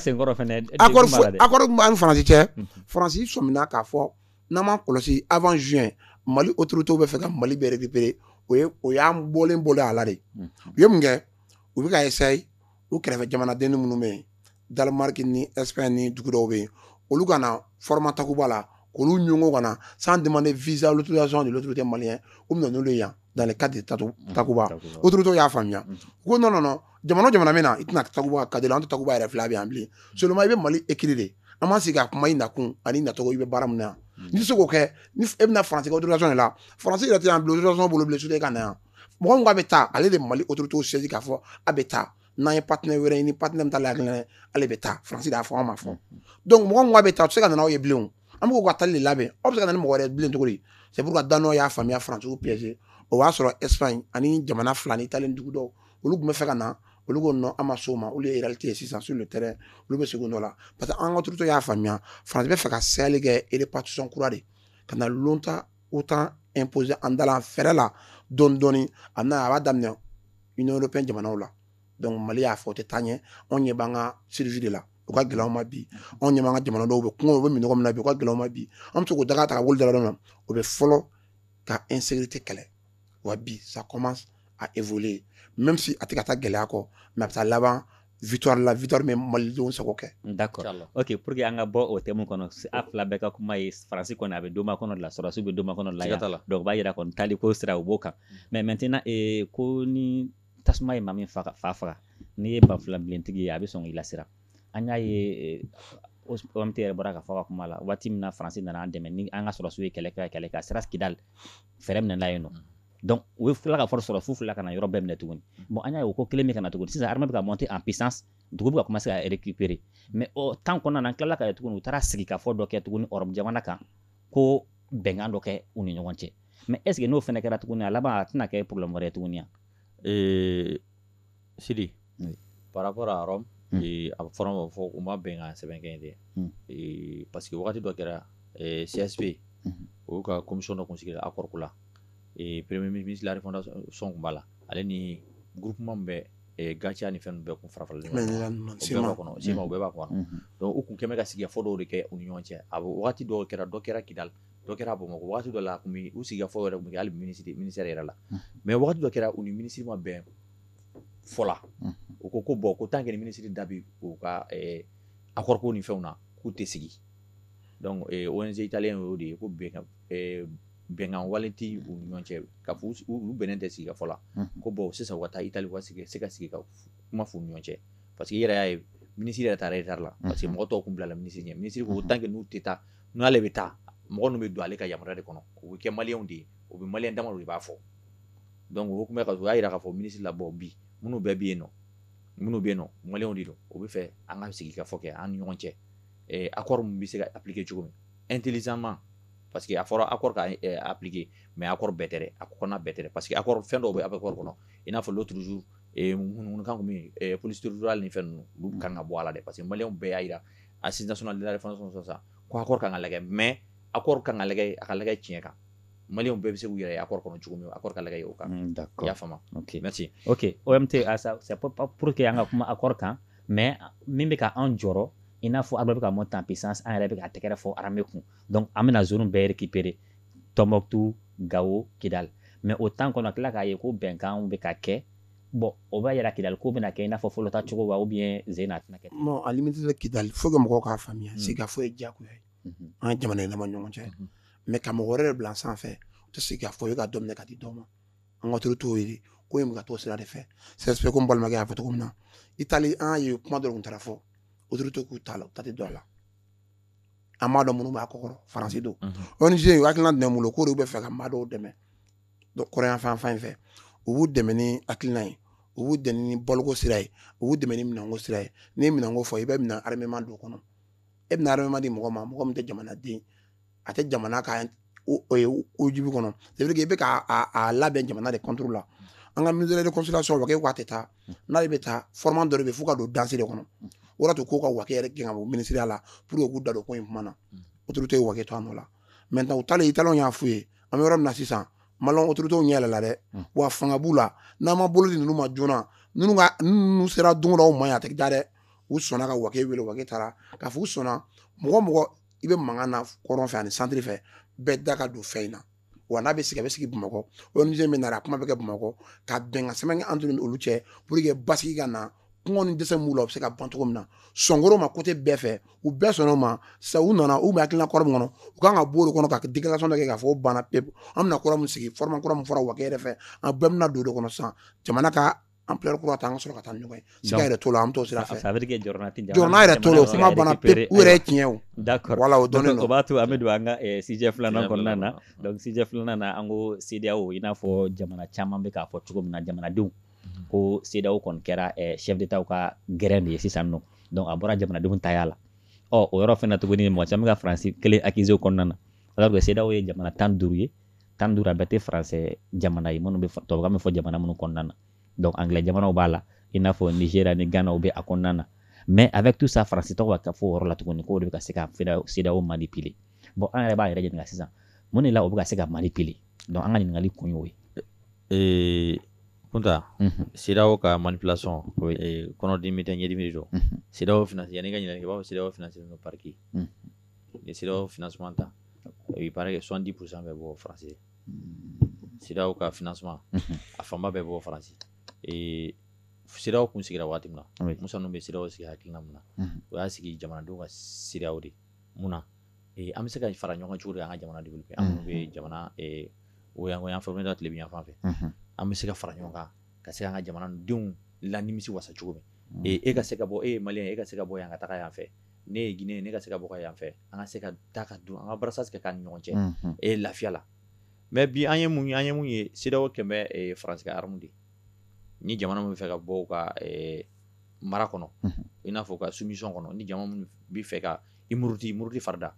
accord b'an ni faransi cɛ faransi sɔmina k'a fɔ n'an ma kɔlɔsi avant juillet mali autorités bɛ fɛ ka mali bɛɛ récupérer o ye o y'an bɔlen bɔlen a la de u ye mun kɛ u bɛ ka essayer u kɛrɛfɛ jamanadenni minnu bɛ yen Danemark ni Espagne ni dugu dɔw bɛ yen olu ka na format takuba la k'olu ɲɔgɔn ka na sans demander visa l'autorisation de l'autorité malien u bɛ na n'olu ye yan dans le cadre de tatu takuba autorités y'a faamuya u ko non non non jamana o jamana bɛ na i tɛna takuba ka cadre la an tɛ takuba yɛrɛ filɛ a bɛ yan bilen seulement i bɛ Mali écrit de an b'an sigi ka kuma i nakun ani nacogo i bɛ baara min na yan n'i tɛ se k'o kɛ ni e bɛna France ka autorisation de la France yɛrɛ tɛ yan bilen autorisation bolo bilen soudain i ka na yan mɔgɔ min ko a bɛ taa ale de mali autorités saisir k'a fɔ a bɛ taa n'an ye partenaire wɛrɛ ɲini partenaire bɛ taa la kelen ale bɛ taa faransi y'a fɔ an ma fɔ donc mɔgɔ min ko a bɛ taa a bɛ se ka nana aw ye bilen an b'u ka tali de labɛn aw bɛ se ka na ni mɔgɔ wɛrɛ bilen cogo di c'est pourquoi Danois y'a faamuya faransiw piège o y'a sɔrɔ Espagne ani jamana fila ni talen dugu dɔw olu tun bɛ fɛ ka na olu ko non an ma sɔn a ma olu ye réalité ye sisan sur le terrain olu bɛ segin dɔ la parce que an ka autorités y'a faamuya faransi bɛ fɛ ka sɛli kɛ répartition kura de ka na l'OTAN OTAN imposer an da la fɛɛrɛ la dɔɔni dɔɔni a bɛna a b'a daminɛ Union européenne jamanaw la donc Mali y'a fɔ o tɛ taa ɲɛ anw ɲɛ b'an ka survie de la o ka gɛlɛn anw ma bi anw ɲɛ b'an ka jamanadenw bɛ kɔngɔ u bɛ minnɔgɔ min na bi o ka gɛlɛn anw ma bi an bɛ se k'o daga ta ka wuli daga dɔ la o bɛ fɔlɔ ka insécurité kɛlɛ wa bi ça commence à évoluer même si a tɛ ka taa gɛlɛya kɔ mais a bɛ taa laban victoire la victoire bɛ malidenw sago kɛ d'accord ok pour que an ka bɔ o thème kɔnɔ a fila bɛɛ ka kuma ye faransi kɔni a bɛ don kɔnɔ la sɔrɔdasiw bɛ don kɔnɔ la la dɔw b'a jira ko itali ko sira u b'o kan mais maintenant ko ni tasuma ye maa min fa faga n'i ye banfula bilen tigi ye a bɛ sɔn i lasiran an y'a ye an tɛ yɛrɛ bɔra k'a fɔ ka kuma la waati min na faransi nana an dɛmɛ ni an ka sɔrɔdasiw ye kɛlɛ kɛ kɛlɛ ka sira sigida la fɛɛrɛ minɛla yen nɔ donc u ye fila ka fɔlɔ sɔrɔ f'u tila ka na yɔrɔ bɛɛ minɛ tuguni bon an y'a ye o ko kelen bɛ ka na tuguni sisan armée bɛ ka monter en puissance dugu bɛ ka commencer ka récupérer mais o temps kɔnɔna na an tilala k'a ye tuguni u taara sigikafɔ dɔ kɛ tuguni Europe jamana kan ko bɛnkan dɔ kɛ u ni ɲɔgɔn cɛ mais est ce que n'o fana kɛra tuguni a laban a tɛna kɛ problème wɛrɛ ye tuguni wa? Ee sidi par rapport à Rome a fɔra ma fɔ u ma bɛn ka sɛbɛn kɛ dɛ parce que waati dɔ kɛra CSP olu ka commission dɔ tun sigira accord ko la premier ministre la refondation tun b'a la ale ni gk bɛ gatia ni fɛn bɛɛ tun fara faralen kɔnɔ se bɛɛ b'a kuwa u tun kɛmɛ ka sigikafɔ dɔw de kɛ u ni ɲɔgɔn cɛ a waati dɔw kɛra dɔ kɛra kidali dɔ kɛra bamakɔ waati dɔ la u sigikafɔ yɛrɛ tun bɛ' minisiri ministère yɛrɛ la mais waati dɔ kɛra u ni minisiri ma bɛn fɔ la u ko ko bɔn ko tant que minisiri da b'u ka accord ko ni fɛnw na k'u tɛ sigi o inze talen y'o de ye ko bɛnkan wale tɛ u ɲɔgɔn cɛ ka u bɛnnen tɛ sigikafɔ la ko bɔn sisan ka taa itali sigi se ka sigi ka kuma f'u ɲɔgɔn cɛ parce que i yɛrɛ y'a ye minisiri yɛrɛ taara e taara la parce que mɔgɔ tɔgɔ tun bila minisiri ɲɛ minisiri ko tant que n'u tɛ taa n'ale bɛ taa mɔgɔ bɛ don ale ka jama de kɔnɔ o bɛ kɛ maliyɛnw de ye o bɛ maliyɛnw dama de b'a fɔ donc o hokumu kɔnɔ u y'a jira k'a fɔ minisiri la bon bi minnu bɛɛ bɛ yen nɔ minnu bɛ yen nɔ maliyɛnw de don u b'a fɛ an ka sigikafɔ kɛ an ni ɲɔgɔn cɛ eh, accord min bɛ se ka appliquer cogo min intelligemment parce que a fɔra accord ka eh, appliquer mais accord bɛɛ tɛ dɛ a kɔnɔna bɛɛ tɛ dɛ parce que accord fɛn dɔw bɛ accord kɔnɔ i n'a fɔ l'autre jour eh, ŋunuŋunukan tun bɛ yen eh, police territoriale ni fɛn ninnu olu kan ka bɔ a la dɛ parce que maliyɛnw bɛɛ y'a jira assise nationale de la refondation sisan ko accord kan ka lagɛ mais accord kan ka lagɛ a ka lagɛ tiɲɛ kan maliyɛnw bɛɛ bɛ se k'u yɛrɛ accord kɔnɔ cogo min a ka lajɛ o kan y'a faamuya o tɛ pour que an ka kuma accord kan mais min bɛ ka anw jɔrɔ i n'a fɔ an bɛ ka monter en puissance an yɛrɛ bɛ ka tɛgɛrɛ fɔ armée kun donc an bɛna zone bɛɛ récupérer tombouctou gawo kidali mais o temps kɔnɔ an tila k'a ye ko bɛnkan bɛ ka kɛ bɔn o b'a jira kidali ko bɛna kɛ i n'a fɔ fɔlɔta cogo wa u bɛ sen' tɛna kɛ alimisala kili fo ka mɔgɔw k'a faamuya se ka foyi ye diyagoya ye an ka jamana yɛlɛma ɲɔgɔn cɛ mais ka mɔgɔ wɛrɛ bila sanfɛ u tɛ se k'a fɔ ye ka daminɛ ka di dɔw ma an ka turu t'o ye ko ye ka to sira de fɛ sɛsɛ ko balimakɛ y'a fɔ cogo min na italiyɛnw ye kuma dɔrɔn taara fɔ o to k'u ta la u ta tɛ dɔn a la an m'a dɔn minnu b'a kɔ faransi don o ni ye hakilina dɛmɛ bolo k'o de bɛ fɛ ka maa dɔw dɛmɛ kɔrɔnyanfan fan in fɛ u b'u dɛmɛ ni hakilina ye u b'u dɛmɛ ni baloko sira ye u b'u dɛmɛ ni minɛnko sira ye n'i ye minɛnko fɔ i bɛ minɛn armement don o kɔnɔ e bɛna armement di mɔgɔ ma mɔgɔ min tɛ jamanaden a tɛ jamana ka ojubi kɔnɔ c'est vrai que i bɛ k'a labɛn jamana de contre la an ka ministre de réconciliation wage k'a tɛ taa n'ale bɛ taa fɔrɔman dɔ de bɛ fo ka don danse de kɔnɔ o de to k'o ka wage yɛrɛ gɛn ka bɔ minisiriya la pour que k'u da don ko in kuma na autorité ye wage to a nɔ la maintenant u taalen italiyɛnw y'a f'u ye an bɛ yɔrɔ min na sisan maliyɛn autorité ɲɛ yɛlɛla dɛ wa fanga b'u la n'an ma bolo di ninnu ma joona ninnu ka n'u sera don o don aw ma yen a tɛ da dɛ u sɔnna ka wage wele wage taara k'a fɔ u sɔnna mɔgɔ mɔgɔ i bɛ mankan na kɔrɔn fɛ ani santiri fɛ bɛɛ da ka don fɛn in na wa n'a bɛ sigi a bɛ sigi bamakɔ ong min nana a kuma bɛ kɛ bamakɔ ka bɛnkansɛbɛn an tun olu cɛ pour que basigi ka na kɔngɔ ni dɛsɛ b'u la u bɛ se ka ban cogo min na sɔnkoro ma côté bɛɛ fɛ u bɛɛ sɔnna a ma sa u nana u bɛ hakilila kɔrɔ min kɔnɔ u kan ka bɔ de kɔnɔ ka déclaration kɛ k'a fɔ banna pe an bɛna kɔrɔ min sigi fɔra kura min fɔra wa yɛrɛ fɛ an bɛɛ bɛna don de kɔnɔ san jamana ka an pere kura an ka sɔrɔ ka taa ɲɔgɔn ye yɛrɛ to la an to sira fɛ sabari yɛrɛ to kuma banna u yɛrɛ tiɲɛ da voilà donc o b'a to an bɛ don an ka sujet filanan kɔnɔna na donc sujet filanan na an ko sedaw i n'a fɔ jamana caman bɛ k'a fɔ cogo min na jamanadenw ko sedaw kɔni kɛra chef d'étatw ka gɛrɛn de ye sisan nɔ dɔn a bɔra jamanadenw taya la ɔ o yɔrɔ fana tuguni mɔgɔ caman bɛ ka faransi kelen accuser o kɔnɔna na alors que sedaw ye jamana tan duuru ye tan duuru a bɛɛ tɛ faransɛ jamana ye minnu bɛ tubabukan bɛ fɔ jamana minnu kɔnɔna na donc anglais jamanaw b'a la i n'a fɔ nigeria ni ghana u bɛ a kɔnɔna na mais avec tout ça faransi tɔgɔ ka fɔ o yɔrɔ la tuguni k'o de bɛ ka se ka sedaw manipuler bon an yɛrɛ b'an yɛrɛ ɲininka sisan mun de la o bɛ ka se ka manipuler donc an ka ɲininkali kun y'o ye ee kunta mhm. sedaw ka manipulation ee, kɔnɔdimi tɛ ɲɛdimi de don mhm. sedaw finance yanni ka ɲininkali kɛ i b'a fɔ sedaw financé don par qui mhm. ni sedaw financement ta i b'a sɔrɔ ko soixante-dix pour cent bɛ bɔ faransi sedaw ka financement a fanba bɛ bɔ faransi sedaw tun sigira waati min na musa bɛ sedaw sigi hakilina min na o y'a sigi jamanadenw ka sedaw de mun an bɛ se ka fara ɲɔgɔn cogo di an ka jamana dugu kɛ an bɛ jamana o yan an fɔ bɛ tilebin yanfan fɛ an bɛ se ka fara ɲɔgɔn kan ka se an ka jamanadenw laɲini wasa cogo min e ka se ka bɔ e ye mali e ka se ka bɔ yan ka taa yan fɛ ne ye Guinée ne ka se ka bɔ ka yan fɛ an ka se ka taa ka don an ka brassage kɛ k'an ni ɲɔgɔn cɛ e lafiya la mais bi an ye mun an ye mun ye CEDEAO kɛlen bɛ e, France ka arme de ni jamana min bɛ fɛ ka bɔ u ka e, mara kɔnɔ i n'a fɔ u ka soumission kɔnɔ ni jamana min bɛ fɛ ka i muruti muruti farida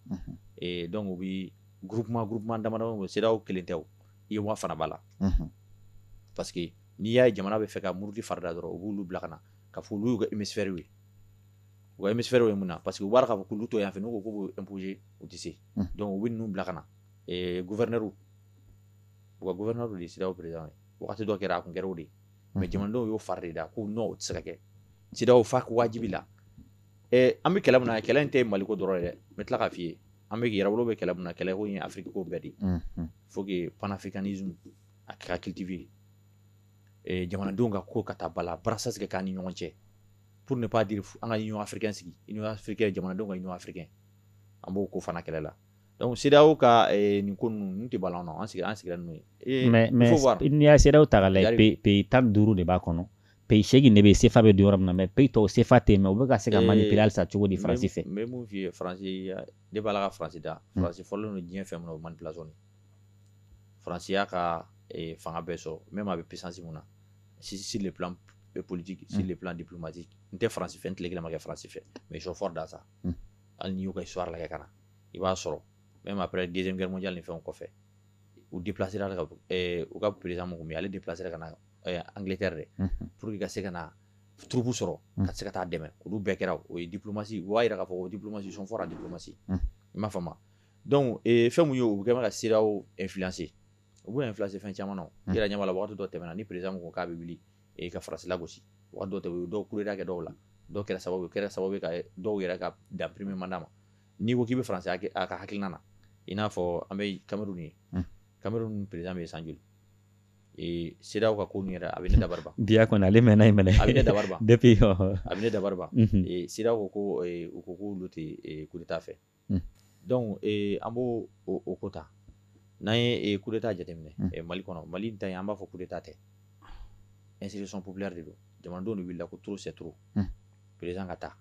e, donc u bɛ groupement groupement dama dama CEDEAO kelen tɛ OUA fana b'a la parce que n'i y'a ye jamana bɛ fɛ ka muruti farida dɔrɔn u b'olu bila ka na ka fɔ olu y'u ka hémisphère ye ka hémisphère ye mun na parce que wara k'a fɔ k'olu to yan fɛ ka ko imposer u tɛ se donc u bɛ ninnu bila ka na gouverneurs u ka gouverneurs de CEDEAO bere ye waati dɔ kɛra a kun kɛra o de ye mais jamanadenw y'u fari de da ko n' o tɛ se ka kɛ CEDEAO fo wajibi la an bɛ kɛlɛ min na kɛlɛ in tɛ Mali ko dɔrɔn yɛrɛ n bɛ tila k'a f'i ye an bɛ yɛrɛ bolo bɛ kɛlɛ min na kɛlɛ ko ye Afiriki bɛɛ de pour que panafricanisme a kɛra kitibi jamanadenw ka ko ka taa bala brassage kɛ k'an ni ɲɔgɔn cɛ pour ne pas dire an ka Union africaine sigi Union africaine jamanadenw ka Union africaine an b'o ko fana kɛlɛ la donc CEDEAO ka eh, nin ko ninnu ninnu tɛ ban an na an sigira an sigira n'o ye mais mais n'i y'a CEDEAO ta k'a lajɛ pays tan ni duuru de b'a kɔnɔ pays seegin de bɛ yen CFA bɛ don yɔrɔ min na mais pays tɔw CFA tɛ yen mais u bɛ ka se ka eh, manipuler halisa cogo di Faransi fɛ n bɛ mun f'i ye Faransi ne b'a la ka Faransi da hmm. Faransi fɔlɔlen don diɲɛ fɛn min na o manipulation de Faransi y'a ka eh, fanga bɛɛ sɔrɔ même a bɛ puissance min na sur sur le plan politique sur le plan diplomatique n tɛ France fɛ n tile kelen ma kɛ France fɛ mais ils sont forts dans ça hali n'i y'u ka histoire lajɛ ka na i b'a sɔrɔ même après deuxième guerre mondiale ni fɛnw kɔfɛ u déplacer la ka eh, u ka président min tun bɛ yen ale déplacer la ka na eh, Angleterre de pour que ka se ka na troupes sɔrɔ ka se ka taa dɛmɛ olu bɛɛ kɛra o ye diplomasi u b'a yira k'a fɔ ko diplomasi sont forts en diplomasi i m'a faamu donc eh, fɛn min ye u bɛ ka bɛ ka CEDEAO influencer u bɛ influencer fɛn caman na ɲamamala waati dɔ tɛmɛna ni président ko k'a bɛ wuli e ka Faransi lagosi dɔw tɛ u dɔw coup d'État kɛ dɔw la dɔw kɛra sababu kɛra sababu ka dɔw yɛrɛ ka dan premier mandat ma n'i ko k'i bɛ fara a ka hakilina na i n'a fɔ an bɛ Cameroun ye Cameroun président bɛ yen san joli CEDEAO ka ko min yɛrɛ a bɛ ne da bi kɔni ale mɛn in minɛ a bɛ ne da a bɛ ne dabali ban CEDEAO ko ko u ko k'olu tɛ coup d'État fɛ donc an b'o o ko ta n'an ye coup d'État jateminɛ Mali kɔnɔ Mali ta an b'a fɔ coup d'État tɛ insurrection populaire de don jamanadenw de wulila ko trop c'est trop président ka taa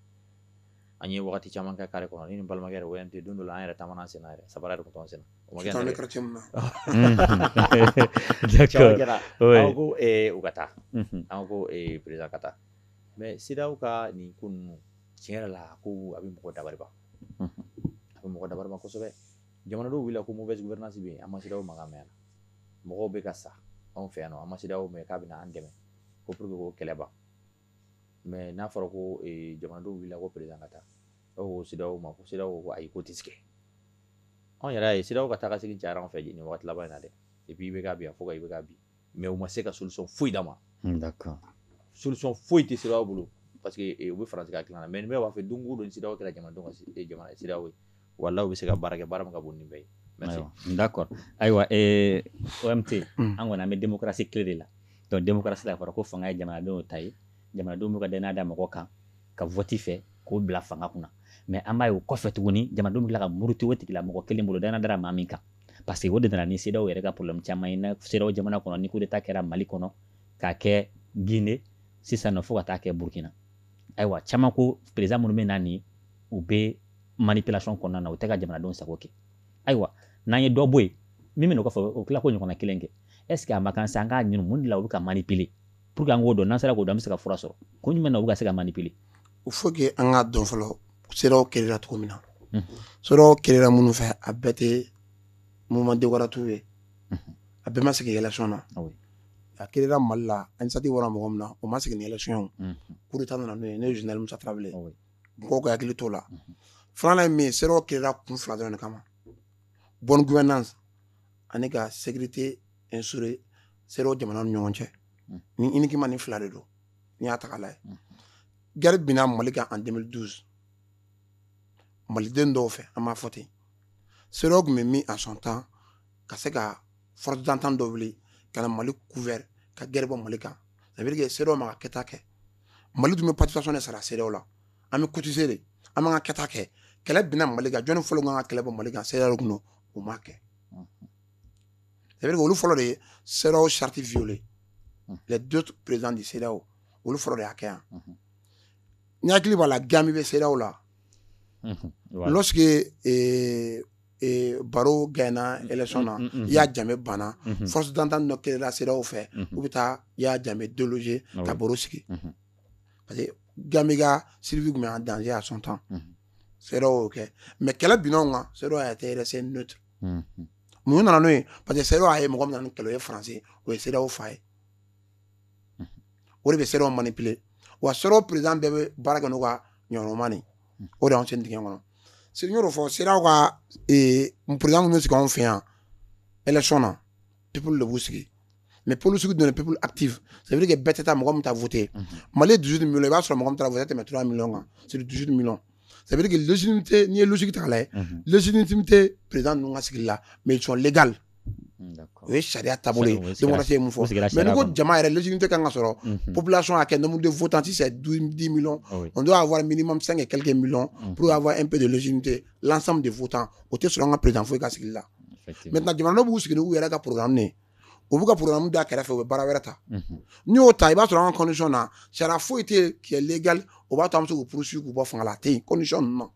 an ye waati caman kɛ carré kɔnɔ n balimakɛ o tɛ don don an yɛrɛ taa sen yɛrɛ sabali de tɔn sen u ka taa an ko président ka taa mais CEDEAO ka nin ko ninnu tiɲɛ yɛrɛ la ko a bɛ mɔgɔ dabali ban a bɛ mɔgɔ dabali ban kosɛbɛ jamana dɔw wulila ko mauvaise gouvernance yen an ma CEDEAO makan mɛn na mɔgɔw bɛ ka sa anw fɛ yan an ma CEDEAO mɛn k'a bɛ an dɛmɛ ko pour que ko kɛlɛ ban mais n'a fɔra ko jamana dɔw wulila ko président ka taa aw CEDEAO ma ko CEDEAO ko ayi ko tɛ tigɛ anw yɛrɛ ye CEDEAO ka taa segin ca anw fɛ ɲini waati laban in na dɛ i b'i bɛ ka bi a fɔ i bɛ ka bi mais u ma se ka solution foyi d'an ma solution foyi tɛ CEDEAO bolo parce que u bɛ fara ka dilan mais b'a fɛ don dɔ CEDEAO kɛra jamana jamana CEDEAO ye wala u bɛ se ka baara kɛ baara ka bon nin bɛɛ ye da kɔrɔ ayiwa ote an kɔni an bɛ démocratie tile de la donc démocratie a fɔra ko fanga ye jamanadenw ta ye jamanadenw bɛ ka dannaya da mɔgɔ kan ka vote fɛ k'o bila fanga kunna mais an b'a ye o kɔfɛ tuguni jamanadenw bɛ tila ka muruti o tigi la mɔgɔ kelen bolo da da maa min kan parce que o de nana ni CEDEAO yɛrɛ ka problème caman ye na CEDEAO jamana kɔnɔ ni coup d'état kɛra mali kɔnɔ k'a kɛ gine sisan nɔ fo ka taa kɛ burkina ayiwa caman ko président minnu bɛ na nin u bɛ manipulation kɔnɔna na u tɛ ka jamanadenw sago kɛ ayiwa n'an ye dɔ bɔ yen min bɛna o kɔfɛ o tila k'o ɲɔgɔnna kelen kɛ est ce que a ma kan sa an k'a ɲini mun de la u bɛ ka manipuler pour que an k'o dɔn n'an sera k'o dɔn an bɛ se ka fura sɔrɔ kun jumɛn na u bɛ ka se ka manipuler U fo que an ka dɔn fɔlɔ se kira cogo min na so kira minnu fɛ a bɛɛ tɛ mɔdenwtu ye a bɛɛ ma sigi yɛlɛy na a kira mali la ansati wara mɔgɔ min na o ma sigiy kuruta nana n'o ne zmusa tarawele mɔgɔ ka hakili to la filanan ye min se kira kun fila dɔrɔn kama bɔn gna ani ka segte n sure se jamana ni ɲɔgɔn cɛ ni ikiman ni fila de don n'i y'a tagala ye guerre binna mali kan en deux mille douze maliden dɔw fɛ an b'a fɔ ten CEDEAO tun bɛ min à son temps ka se ka force d'attente dɔ wuli ka na mali couvert ka guerre bɔ mali kan ça veut dire que CEDEAO m'a ka kɛta kɛ mali tun bɛ participation de sara CEDEAO la an bɛ cotiser de an b'an ka kɛta kɛ kɛlɛ binna mali kan jɔnni fɔlɔ kan ka kɛlɛ bɔ mali kan CEDEAO tun don u m'a kɛ olu fɔlɔ de ye sew sariti fiylen la du perez de se olu fɔlɔ de y'a kɛ yan n hakili b'a la gami bɛ sew la sigi baro gɛnna esɔn na i y'a jamu banna fo dan tan dɔ kela sew fɛ u bɛ taa i y'a jamu don ye ka baro sigi parce que gami ka sibi tun dan y'a sɔn tan se y'o kɛ mɛ kɛlɛ binw kan se yɛrɛ se n'o ten mun nana n'o ye parce que CEDEAO y'a ye mɔgɔ min nana ni kɛlɛ ye faransi o ye CEDEAO fa ye o de bɛ CEDEAO manipuler wa CEDEAO président bɛɛ bɛ baara kɛ n'u ka ɲɔgɔnma de o de y'anw sen dingɛ kɔnɔ se n y'o fɔ CEDEAO ka président minnu bɛ sigi anw fɛ yan élection na peuple de b'u sigi mais polisiw donna peuple active ça veut dire que bɛɛ tɛ taa mɔgɔ min ta voter mali 18 millions i b'a sɔrɔ mɔgɔ min taara voter tɛmɛ 3 millions kan sur 18 millions sɛbɛn kɛ lusini tɛ n'i ye lusigi ta la lusini tun tɛ perez ninnu ka sigi la mɛ sɔn legali o ye sariya taabolo ye se mun fɔ mɛ ne ko jama yɛrɛ lusini tɛ ka ka sɔrɔ pbila sɔn a kɛ nmu de futa tɛ se du di mi n y'a wari mi mami kɛ kɛlɛkɛ mi p y'a fɔ np de lusini tɛ lasan de futa o tɛ sɔrɔ an ka perez foyi ka sigi la mɛ jamana b'u sigi u yɛrɛ ka porokanmini u b'u ka programme da kɛrɛfɛ u bɛ baara wɛrɛ ta n'i y'o ta i b'a sɔrɔ an ka constitution na sariya foyi tɛ yen qui est légal o b'a to an bɛ se k'u poursuivre k'u bɔ fanga la a tɛ yen constitution ninnu na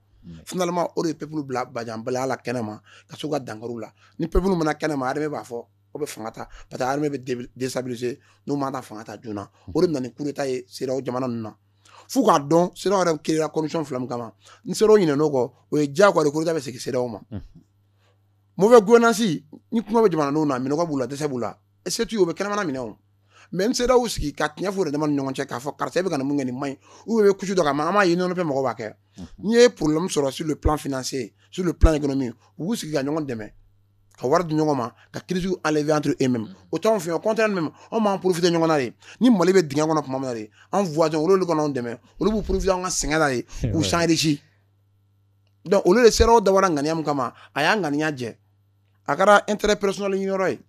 finalement o de ye peuple bila bajanbilaya la kɛnɛ ma ka se u ka dankariw la ni peuple mana kɛnɛ ma armée b'a fɔ o bɛ fanga ta parce que armée bɛ déstabiliser n'u ma ta fanga ta joona o de bɛ na ni coup d'état ye CEDEAO jamana ninnu na f'u k'a dɔn CEDEAO yɛrɛ créer la condition fila min kama ni CEDEAO ɲinɛna o kɔ o ye diyagoya de ye coup d'état bɛ segin CEDEAO ma mauvaise gouvernance ni kɔngɔ bɛ jamanadenw na minnɔgɔ b'u la dɛsɛ b'u la c'est tout u bɛ kɛnɛma minɛ o mais CEDEAO sigi ka tiɲɛ fɔ u dama ni ɲɔgɔn cɛ k'a fɔ karisa bɛ ka mun kɛ nin maɲi u bɛ kusu dɔ ka ma an m'a ye nɔnɔ fɛ mɔgɔ b'a kɛ n'i ye problème sɔrɔ sur plan financier sur plan économique u b'u sigi ka ɲɔgɔn dɛmɛ ka wari di ɲɔgɔn ma ka kisiw ale anto e min o t' fɛ o kɔntan min anw b'an profiter ɲɔgɔn na de ni mali bɛ dingɛ kɔnɔ tuma min de an voisin olu k'an dɛmɛ olu b'u profiter an ka sɛgɛn na de k'u s'enrichir donc olu de CEDEAO dabɔra ŋaniya min kama a y'a ŋaniya jɛ a kɛra intérêt personnel ɲini yɔrɔ ye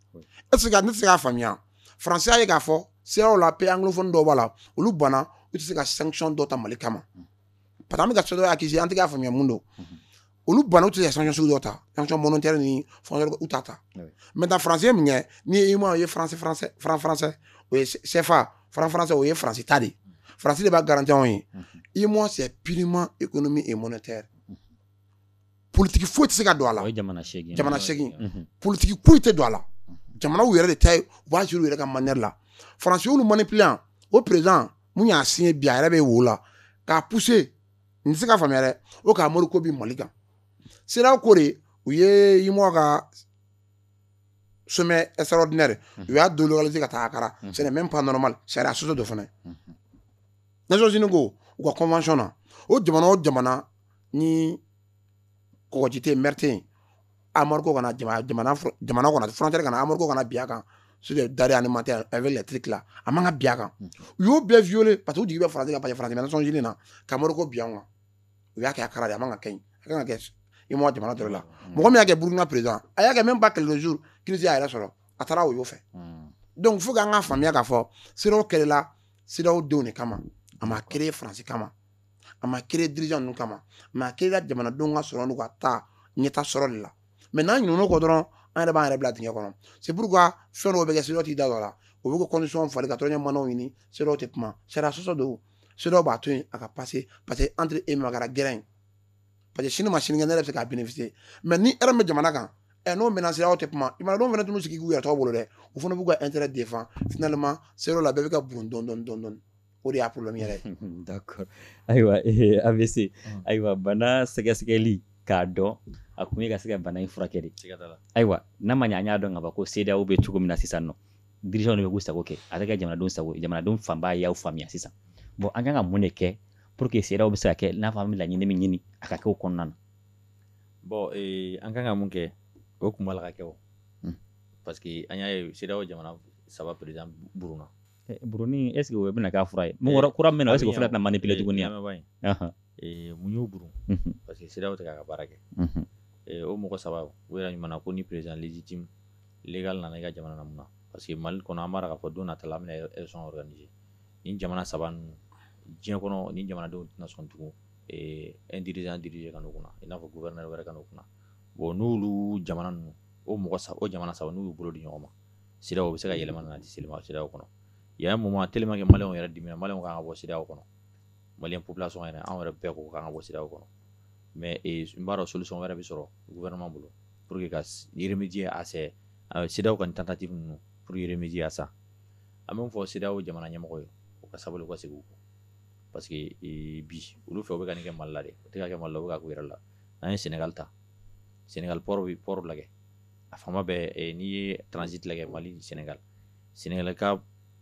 ce que ne tɛ se k'a faamuya faransi y'a ye k'a fɔ CEDEAO la pays anglophone dɔw b'a la olu banna u tɛ se ka sanction dɔ ta mali kama parce que an bɛ ka CEDEAO accuser an tɛ k'a faamuya mun don olu banna u tɛ se ka sanction sugu dɔ ta sanction monétaire ni fɛn u t'a ta maintenant faransi ye mun kɛ n'i ye UEMOA ye français français français o ye CFA franc français o ye faransi ta de ye faransi de b'a garanti anw ye UEMOA c'est purement économique et monétaire politiki foyi tɛ se ka don a la jamana segin politiki foyi tɛ don a la jamanaw yɛrɛ de ta ye u b'a gérer u yɛrɛ ka manière la faransi y'olu manipuler o président min y'a siɲɛ bi a yɛrɛ bɛ wo la k'a puse n tɛ se ka faamuya dɛ o ka embargo bin mali kan CEDEAO ko de u ye UEMOA ka sommet extraordinaire u y'a délocaliser ka taa Accra c'est même pas normal sariya sɔsɔ don fana nations unies ko u ka convention na o jamana o jamana ni kɔgɔji tɛ mer tɛ yen embargo kana jamana jamana jamana kɔnɔ frontière kana embargo kana bin a kan sur les denrées alimentaires avec les trucs là a man ka bin a kan u y'o bɛɛ violer parce que u jigi bɛ faransi kan parce que faransi bɛ nations unies na ka embargo bin an kan u y'a kɛ a kala de a man ka kɛ ɲi a kan ka kɛ i m'a jamana dɔ la mɔgɔ min y'a kɛ burukina président a y'a kɛ même pas quelques jours crise y'a yɛrɛ sɔrɔ a taara o y'o fɛ donc fo k'an ka faamuya k'a fɔ CEDEAO créera CEDEAO denw de kama a ma créer France kama a ma créer dirigeant ninnu kama mais a créera jamanadenw ka sɔrɔ n'u ka taa ɲɛta sɔrɔ de la mais n'an ɲinɛna o kɔ dɔrɔn an yɛrɛ b'an yɛrɛ bila dingɛ kɔnɔ c'est pourquoi fɛn dɔw bɛ kɛ CEDEAO t'i da don a la o bɛ k'u constitution falen ka troisième mandat ɲini CEDEAO tɛ kuma sariya sɔsɔ don CEDEAO b'a to yen a ka pase parce que entre eux a kɛra gɛrɛn ye parce que sini ma sinikɛnɛ yɛrɛ bɛ se k'a bénéficier mais ni hɛrɛ bɛ jamana kan ɛ n'o mɛnna CEDEAO tɛ kuma i ma dɔw fana t'u sigi k'u yɛrɛ to u bolo dɛ u fana b'u ka intérêt défend finalement CEDEAO la bɛɛ bɛ ka bɔ dɔɔni dɔɔni dɔɔni dɔɔni o de y'a problème yɛrɛ ye d'accord ayiwa eh, avc mm. ayiwa bana sɛgɛsɛgɛli k'a dɔn a kun ye ka se ka bana in furakɛ de ayiwa n'a ma ɲɛ an y'a dɔn ka ban ko CEDEAO bɛ cogo min na sisan o dirigeant de bɛ k'u sago kɛ a tɛ kɛ jamanadenw sago jamanadenw fanba y'aw faamuya sisan bon an kan ka mun de kɛ pour que CEDEAO bɛ se ka kɛ n'a fɔ an bɛ laɲini min ɲini a ka kɛ o kɔnɔna na bon ee, an kan ka mun kɛ o kun b'a la ka kɛ o hmm. parce que an y'a ye CEDEAO jamana saba président burunna eh, buruni est ce que o bɛna k'a fura ye mun kura min na est ce que o fana tɛna manipuler tuguni wa ee, mun y'o burun mhm. parce que CEDEAO tɛ k'a ka baara kɛ mhm. ee, o mɔgɔ saba u yɛrɛ ɲuman na ko ni président légitime légal nana i ka jamana na mun na parce que Mali kɔnɔ an b'a dɔn k'a fɔ don nata la an bɛna élection organiser nin jamana saba ninnu diɲɛ kɔnɔ nin jamanadenw tɛna sɔn tugun ee un dirigeant diriger ka n'u kunna i n'a fɔ gouverneur wɛrɛ ka n'u kunna bon n'olu jamana ninnu o mɔgɔ saba o jamana saba n'u y'u bolo di ɲɔgɔn ma CEDEAO bɛ se ka yɛlɛma nati CEDEAO kɔnɔ il y a un moment tellement que maliyɛnw yɛrɛ diminna Mali ka kan ka bɔ CEDEAO kɔnɔ mali population yɛrɛ anw yɛrɛ bɛɛ ko k'an ka bɔ CEDEAO kɔnɔ mais n b'a dɔn solution wɛrɛ bɛ sɔrɔ gouvernement bolo pour que ka remédier à ça CEDEAO ka tactique ninnu pour remédier à ça an b'a fɔ CEDEAO jamana ɲɛmɔgɔw ye u ka sabali ka segin parce que bi olu fɛ u bɛ k'a kɛ mali la de u t'a kɛ mali la u b'a k'u yɛrɛ la n'an ye Sénégal ta Sénégal pɔɔrɔ bɛ pɔɔrɔ lajɛ a fanba bɛ n'i ye transit lajɛ mali Sénégal Sénégal ka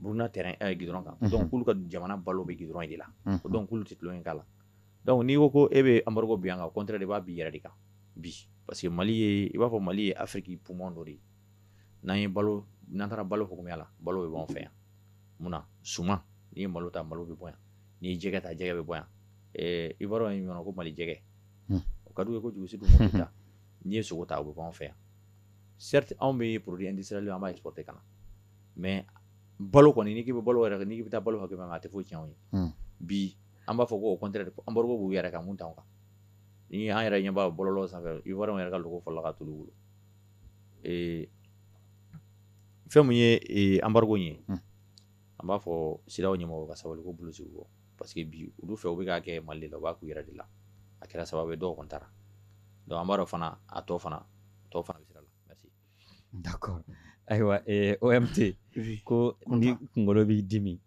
Burukina terrain ɛ goudron kan unhun donc k'olu ka jamana balo be goudron in de la unhun ko donc k'olu te tulon kɛ k'a la donc n'i ko ko e be embargo bin an kan au contraire i b'a bin i yɛrɛ de kan bi parce que Mali ye i b'a fɔ Mali ye Afrique poumon dɔ de ye n'an ye balo n'an taara balo hukumu la balo be b'anw fɛ yan mun na suman n'i ye malo ta malo be bɔ yan n'i ye jɛgɛ ta jɛgɛ be bɔ yan ɛɛ ivoirien ye min ɲɔɔn ko Mali jɛgɛ hun o ka di u ye kojugu surtout Mopti ta n'i ye sogo ta o be bɔ anw fɛ yan certes anw be produit industriel an b'a exporter ka na mais balo kɔni n'i bɛ balo yɛrɛ n'i bɛ taa balo hakɛ a tɛ foyi cɛn ye bi an b'a fɔ ko kɔn an b'u yɛrɛ ka mun kan ni an yɛrɛ ɲɛba bɔlɔ sanfɛ i yɛrɛ yɛrɛ ka dugu fɔlɔ ka tuuru bolo fɛn min ye anba ye an b'a fɔ CEDEAO ye ka sabali ko bilisi bɔ parce que bi olu fɛ u b'a kɛ Mali la u b'a k'u yɛrɛ de la a kɛra sababu dɔw taara donc an b'a dɔn fana a tɔ fana tɔw fana bɛ sira la D'accord ayiwa ee OMT oui ko ni kunkolo b'i dimi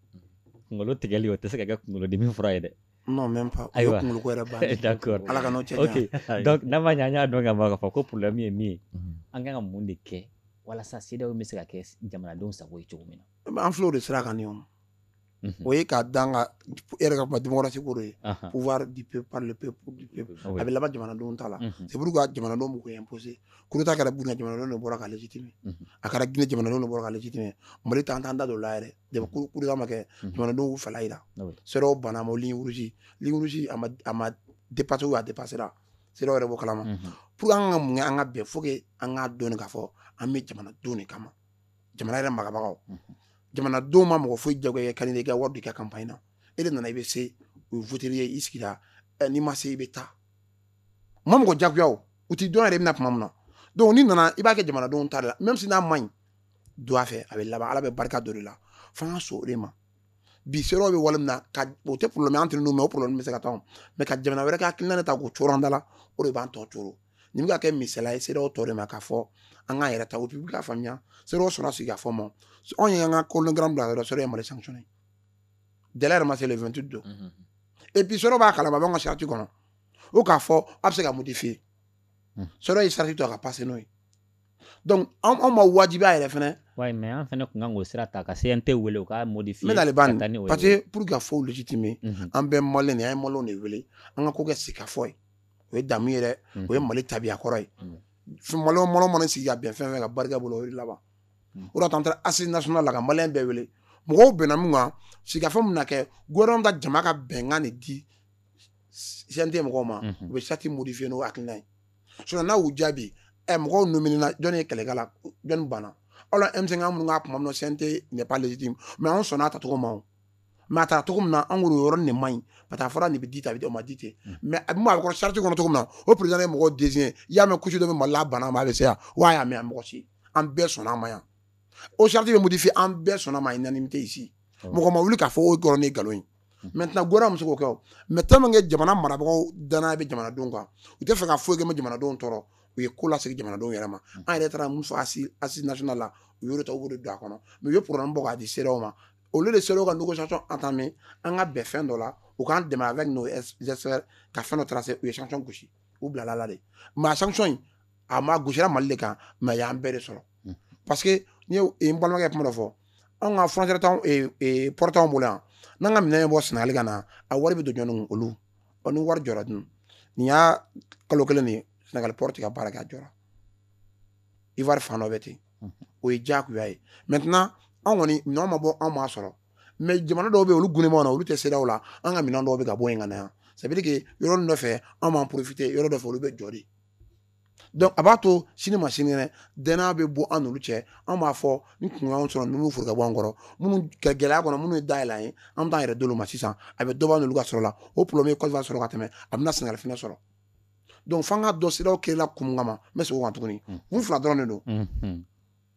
kunkolo tigɛli o tɛ se ka kɛ kunkolodimi fura ye dɛ non même pas o ye Ayiwa. kunkolo ko yɛrɛ bannen d'accord Ala k'an n'o cɛ ok janya donc n'a ma ɲɛ an y'a dɔn ka ban k'a fɔ ko problème ye min ye Mhm. an kan ka mun de kɛ walasa CEDEAO bɛ se ka kɛ jamanadenw sago ye cogo min na an filɛ o de sira kan nin ye o. Mhm. O ye k'a d'a kan e yɛrɛ ka kuma démocratie ko de ye. Ahan. Pouvoir du peuple par le peuple pour le peuple. Ah oui. A bɛ laban jamanadenw ta la. Mhm. C'est pourquoi jamanadenw b'u ko imposer. Coup d'Etat kɛra Burkina jamanadenw de bɔra k'a légitimer. Mhm. A kɛra Guinée jamanadenw de bɔra k'a légitimer. Mali ta an t'an da don o la yɛrɛ. Depuis coup coup d'Etat ma kɛ, Mhm. jamanadenw y'u fɛla jira. Ah oui. CEDEAO banna a ma o ligne rouge. Ligne rouge a ma a ma dépasser ou a dépassé la. CEDEAO yɛrɛ b'o kalama. Mhm. Pour que an ka mun kɛ an ka bɛn faut que an k'a dɔn de k'a fɔ an bɛ jamanadenw de kama. jamana yɛrɛ marabagaw jamanaden ma mɔgɔ foyi jagoya k'a i ka wari di ka kan in na e de nana i bɛ se u wotera i ye i sigira n'i ma se i bɛ taa ma mɔgɔ jagoya u t'a dɔn yɛrɛ bɛna na tuma min na don n'i nana i b'a kɛ jamanadenw ta la mais n'a ma ɲi don a fɛ a bɛ laban ala bɛ barika dɔ la fo ka so ma bi se bɛ wale min na o tɛ problème an tɛ n' o plen bɛ se ka taa mais ka jamana wɛrɛ ka ki ne ta k'o cogo da la o de b'an tɔ cogo nin bɛ ka kɛ misali ye CEDEAO tɔ de ma k'a fɔ an k'an yɛrɛ ta u bɛ k'a faamuya CEDEAO sɔnna sigikafɔ ma anw ye an ka chronogramme bila yɔrɔ CEDEAO ye Mali sanctionner délai yɛrɛ ma se le 28 don mhm. et puis CEDEAO b'a kalama b'an ka charte kɔnɔ o k'a fɔ a bɛ se ka modifier mhm. CEDEAO ye charte to a ka passer n'o ye donc anw ma wajibiya yɛrɛ fɛnɛ wayi mais an fɛnɛ kun kan k'o sira ta ka CNT wele u ka modifier n bɛna le ban parce que pour que ka fɔw légitimer mhm. an bɛɛ maliyɛn de an ye maliyɛnw de wele an ka ko kɛ sigikafɔ ye o ye damu yɛrɛ o ye mali tabiya kɔrɔ ye malo mɔnɔnɔ mana sigi ka bɛn fɛn fɛ ka barika bolo o laban o an taara assises nationales la ka mali bɛɛ wele mɔgɔw bɛnna min kan sigikafɔ min na kɛ gouvernement ka jama ka bɛnkan de di CNT mɔgɔw ma u bɛ charte modifier n'o hakilina ye so n'u jaabi ɛ mɔgɔw donmina jɔn ye kɛlɛkala jɔnni banna ala e bɛ se ka mun tuma minnu CNT ɲɛp lajɛji mais anw sɔnna a tacogo ma mais a taara cogo min na an kɔni yɔrɔ nin man ɲi ka taa fɔra nin bɛ di ta bɛ ma di tɛ mm. mais a bɛ a kɔrɔ charte kɔnɔ cogo min na o pere ye mɔgɔ den ye y'a mɛn kusi dɔ bɛ mali bana ma bɛ se yan wa y'a mɛn mɔgɔ si an bɛɛ sɔnna ma yan o charte bɛ modifier an bɛɛ sɔnna ma naani tɛ si oh. mɔgɔ ma wuli k'a fɔ o dɔrɔn ni nkalon ye mm. maintenant gora muso kɛ mɛ tan min kɛ jamana marabagaw dannaya bɛ jamanadenw kan u tɛ fɛ ka foyi kɛ ma jamanadenw tɔɔrɔ u ye ko lasegin jamanadenw yɛrɛ ma mm. an yɛrɛ taara min fɔ assises assises nationales la u y'o ta u don a kɔnɔ mais u ye programme bɔ k'a di cedeao ma olu de sera ka négociation entamer an ka bɛn fɛn dɔ la u k'an dɛmɛ avec nos experts ka fɛn dɔ tracer u ye sanction gosi u bilala la de mais a sanction in a gosira mali de kan mais y'an bɛɛ de sɔrɔ hmm. parce que n ye n balimakɛ kuma dɔ fɔ anw ka frontière t'anw eh, eh, port t'anw bolo yan n'an ka minɛn bɔ sɛnɛgali ka na a wari bɛ don jɔni olu ɔ ni wari jɔra dun nin y'a kalo kelen de ye sɛnɛgali port ka baara kɛ a jɔra ivoire fana dɔ bɛ ten o ye jagoya ye maintenant anw kɔni minɛn ma bɔ anw ma sɔrɔ mais jamana dɔw bɛ olu g na olu tɛ se aw la an ka minɛn dɔw bɛ ka bɔ an ka yan ça veut dire que yɔrɔ dɔ fɛ anw b'an profiter yɔrɔ dɔ fɛ olu bɛ jɔ de donc a b'a to sini ma sini kɛnɛ dɔ bɛ bɔ an cɛ an b'a fɔ n kun sɔrɔ n furu ka bɔ an kɔrɔ minnu gɛlɛya kɔnɔ minnu ye day ye an b'an yɛrɛ don ma sisan a bɛ dɔ bɔ u ka sɔrɔ la u bɛ min sɔrɔ ka tɛmɛ a bɛna na sɛgɛn k'a sɔrɔ donc f'an ka dɔn cedeao kɛla kun kama n bɛ segin o kan tuguni mm. kun fila dɔrɔn de don mm-hmm.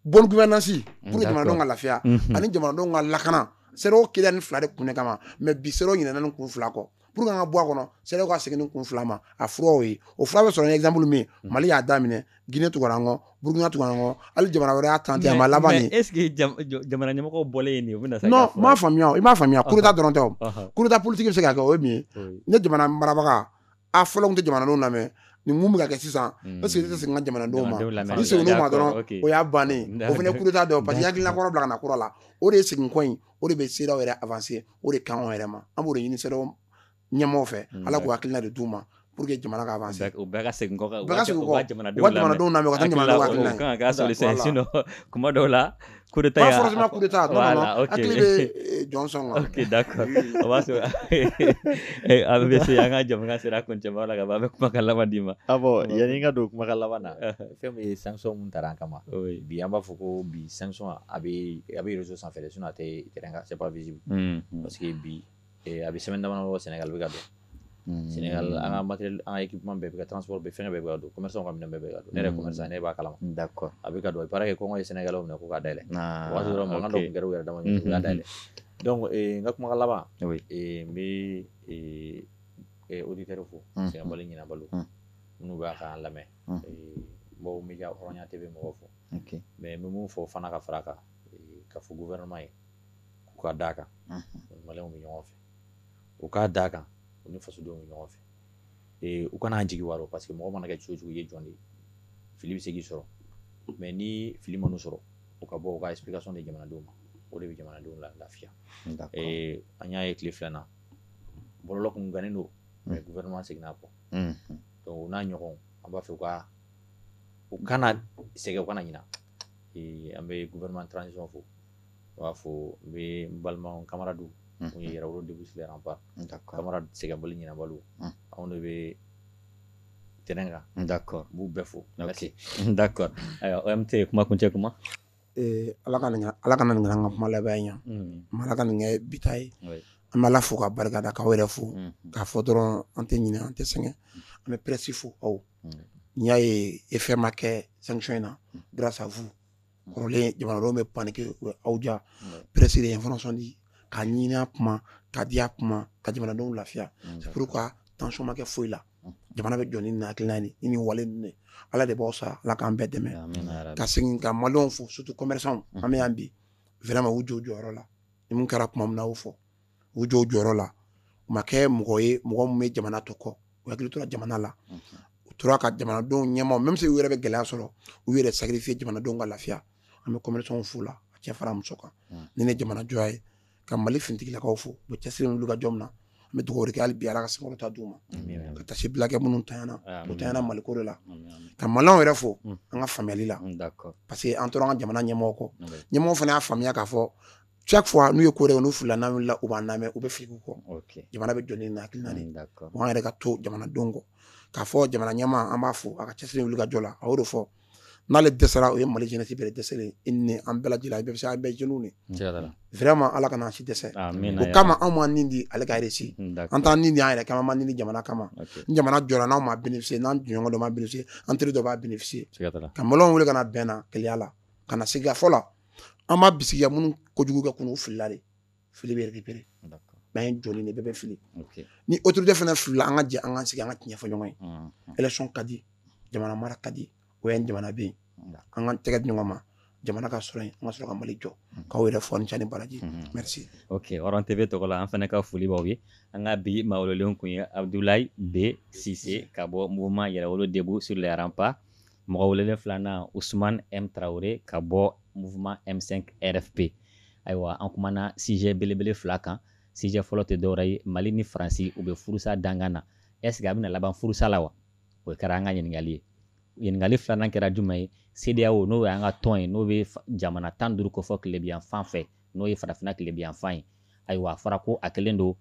bonne gouvernance mm, pour jamanadenw ka lafiya mm-hmm. ani jamanadenw ka lakana cedeao kɛla nin fila de kun de kama mais bi cedeao ɲinɛna nin kun fila kɔ pour que an ka bɔ a kɔnɔ cedeao ka segin nin kun fila ma a furaw ye o fura bɛ sɔrɔ ni exemple min ye mm. mali y'a daminɛ guinée tugara an kɔ burkina tugara an kɔ hali jamana wɛrɛ y'a tenter a ma laban de est ce que jamana ɲɛmɔgɔw bɔlen ye nin ye u bɛna non m'a faamuya i m'a faamuya coup d'état dɔrɔn tɛ o coup d'état politique bɛ se ka kɛ o ye min ye ni jamana marabaga a fɔla k'u tɛ jamanadenw lamɛn nin mun bɛ ka kɛ sisan mm. parce que tɛ segin ka jamanadenw ma n'a seginn'u ma dɔrɔn o y'a bannen o fana coup d'état don parce que hakilina kɔrɔ bila ka na kura la o de ye segin kɔ in o de bɛ cedeao yɛrɛ avancer o de kan anw yɛrɛ ma an b'o de ɲini cedeao ɲɛmɔgɔw fɛ mm, ala k'u hakilina de d'u ma pour que jamana ka avancer u bɛɛ ka segin kɔ u bɛɛ ka segin kɔ jamanadenw lamɛn u ka jamanadenw lamɛn u ka taa jamanadenw hakilina ye kuma dɔw la coup d'état pas forcément coup d'état non voilà, non okay. hakili bɛ eh, Johnson la ok d'accord o b'a sɔrɔ eh, a bɛ se an ka jɛmukan sera kuncɛba la ka ban an bɛ kumakan laban d'i ma ah bon yanni n ka don kumakan laban na fɛn min ye sanction mun tara an kama bi an b'a fɔ ko bi sanction a bɛ a bɛ réseau sanfɛ de sinon a tɛ terrain kan c'est pas visible parce que bi a bɛ semaine dama bɔ Sénégal bɛ ka don Sénégal an ka matériel an ka équipement bɛɛ bɛ ka transport bɛ fɛn bɛɛ bɛ ka don commerçant ka minɛn bɛɛ bɛ ka don ne commerçant ne b'a kalama a bɛ ka don a baara kɛ kɔngɔ ye Sénégal minɛ ko ka da yɛlɛ o y'a sɔrɔ makan dɔw kɛra yɛrɛ dama da dɛ n ka kuma laban n bɛ auditeurs fo sɛgɛnbali ɲinɛbaliw minnu b'an ka lamɛn baw bɛ hɔrɔnya TV mɔgɔw fo mɛ n bɛ min fɔ fana ka fara kan ka fɔ gouvernement ye k'u ka d'a kan bɛ ɲɔgɔn fɛ u k ka d'a kan u ni fasodenw bɛ ɲɔgɔn fɛ u kana an jigi wa parce que mɔgɔ mana kɛ cogo cogo ye jɔn de ye fili bɛ se k'i sɔrɔ mɛ ni fili ma sɔrɔ u ka bɔ ka ka sɔn ni jamanadenw ma o de bɛ jamanadenw la lafiya an y'a ye tile filanan bɔlɔ kun gannen don mɛ gouvernement seginna kɔ n'a ɲɔgɔn an b'a fɛ ka u kana sɛgɛn u kana ɲinɛ an bɛ gouvernement de transition fo u b'a fɔ n bɛ n balima camarades ye yɛrɛwolo debout sur les remparts camarades sɛgɛnbali ɲinɛbaliw anw de bɛ terrain kan n da kɔrɔ b'u bɛɛ fo n bɛ se n da kɔrɔ an tɛ kuma kuncɛ kuma ala ka ala kana nin kɛ an ka kuma laban in ye ala ka nin kɛ bi ta ye an bɛ ala fo ka barika da k'aw yɛrɛ fo k'a fɔ dɔrɔn an tɛ ɲinɛ an tɛ sɛgɛn an bɛ presse fo aw n'i y'a ye e fɛn ma kɛ sanction in na grâce à vous kɔrɔlen jamanadenw bɛ paniquer u bɛ aw ja presse de ye information di ka ɲini a kuma ka di a kuma ka jamanadenw lafiya c'est pourquoi tension ma kɛ foyi la jamana bɛ jɔ ni nin hakilina ni nin wale ninnu de Ala de b'aw sara Ala k'an bɛɛ dɛmɛ ka segin ka maliyɛnw fo surtout commerçants an bɛ yan bi vraiment u jɔ u jɔyɔrɔ la ni mun kɛra tuma min na a y'o fɔ u jɔ jɔyɔrɔ la u ma kɛ mɔgɔ ye mɔgɔ min bɛ jamana to kɔ u hakili tora jamana la u tora ka jamanadenw dɛmɛ même si u yɛrɛ bɛ gɛlɛya sɔrɔ u yɛrɛ sacrifier jamanadenw ka lafiya an bɛ commerçants fo la a cɛ fara muso kan ni ne jamana jɔya ye ka mali finitigilakaw fo u cɛsiri wulikajɔ la n bɛ dugawu kɛ bi ala ka sabati di u ma ka taa se bilakɛ minnu tayana u tayana maliko la ka maliyɛnw fo an ka faamuyali la parce que an tora an ka jamana ɲɛmɔgɔ kɔ ɲɛmɔgɔ fana y'a faamuya k'a fɔ chaque fois n'u ye ko kɛ n'u filila n'u la u b'an lamɛn u bɛ fili kɔ jamana bɛ jɔn na naani u'an yɛrɛ ka to jamanaden kɔ k'a fɔ jamana ɲɛmaa an b'a fo a ka cɛsiri wulikajɔ la a de fɔ n'ale dɛsɛra o ye mali jti bɛ dɛsɛ i ni an bɛɛ lajɛlen bɛ se an bɛɛ jeni fɛrɛɛrɛ ma ala ka si dɛsɛ o kama anw ma nin di ale kare an taa ni y'a yɛrɛ kama ma ni jamana kama jamana jɔ n'an ma bénéficier n'an jɔn dɔ ma bénéficier an teri dɔ b'a bénéficier ka wele kana bɛnna kɛlɛya la ka na se fɔ la an b'a bisigiya minnu kojugu kɛ k'u filila de fili bɛ yɛrɛpere n'an ye jɔn de bɛɛ bɛ fili ni otorite fana fili an ka jɛ an ka sigi an ka tiɲɛ fɔ ɲɔgɔn ye fanga ka di jamana mara ka di o ye jamana bɛ yen an ka tɛgɛ di ɲɔgɔn ma jamana ka sɔrɔ an ka sɔrɔ ka mali jɔ k'aw yɛrɛ fo ni ce ni baraji tv tɔgɔ la an fana ka foli b'aw ye an ka bi maa welelenw tun ye abudulayi b sise ka bɔ mouvement yɛrɛwolo debout sur les remparts mɔgɔ welelen filanan usman m tarawele ka bɔ mouvement m5 rfp ayiwa an kumana sijɛ belebele fila kan sijɛ fɔlɔ tɛ dɔwɛrɛ ye mali ni faransi u bɛ furusa dankan na ɛsike a bɛna laban furusa la wa o kɛra an ka ɲininkali ye ɲininkali filanan kɛra jumɛn ye CEDEAO n'o y'an ka tɔn ye n'o bɛ jamana tan duuru kofɔ tilebinyanfan fɛ n'o ye farafina tilebinyanfan ye ayiwa a fɔra ko a kɛlen don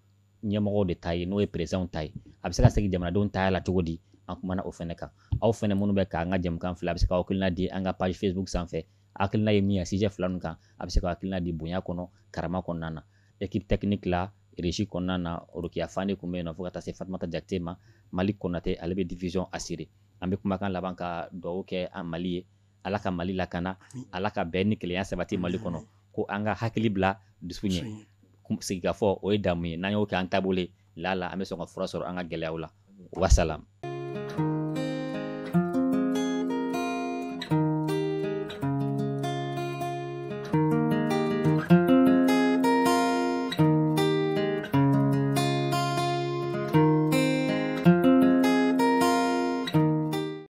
ɲɛmɔgɔw de ta ye n'o ye perezidanw ta ye a bɛ se ka segin jamanadenw ta la cogo di an kumana o fana kan aw fana minnu bɛ k'an ka jɛmukan filɛ a bɛ se ka hakilina di an ka page facebook sanfɛ hakilina ye min ye sijɛ fila ninnu kan a bɛ se ka hakilina di bonya kɔnɔ karama kɔnɔna na ekipe tɛkiniki la régie kɔnɔna na orokiya fane tun bɛ yen nɔ fo ka taa se fatumata jakite ma mali konate ale bɛ diffusion assurer an bɛ kumakan laban ka dugawu kɛ mali ye ala ka mali lakana ala ka bɛn ni kelenya sabati mali kɔnɔ ko an ka hakili bila dusu ɲɛ sigikafɔ o ye damu ye n'an y'o kɛ an taabolo ye laala an bɛ sɔn ka fura sɔrɔ an ka gɛlɛyaw la wasalam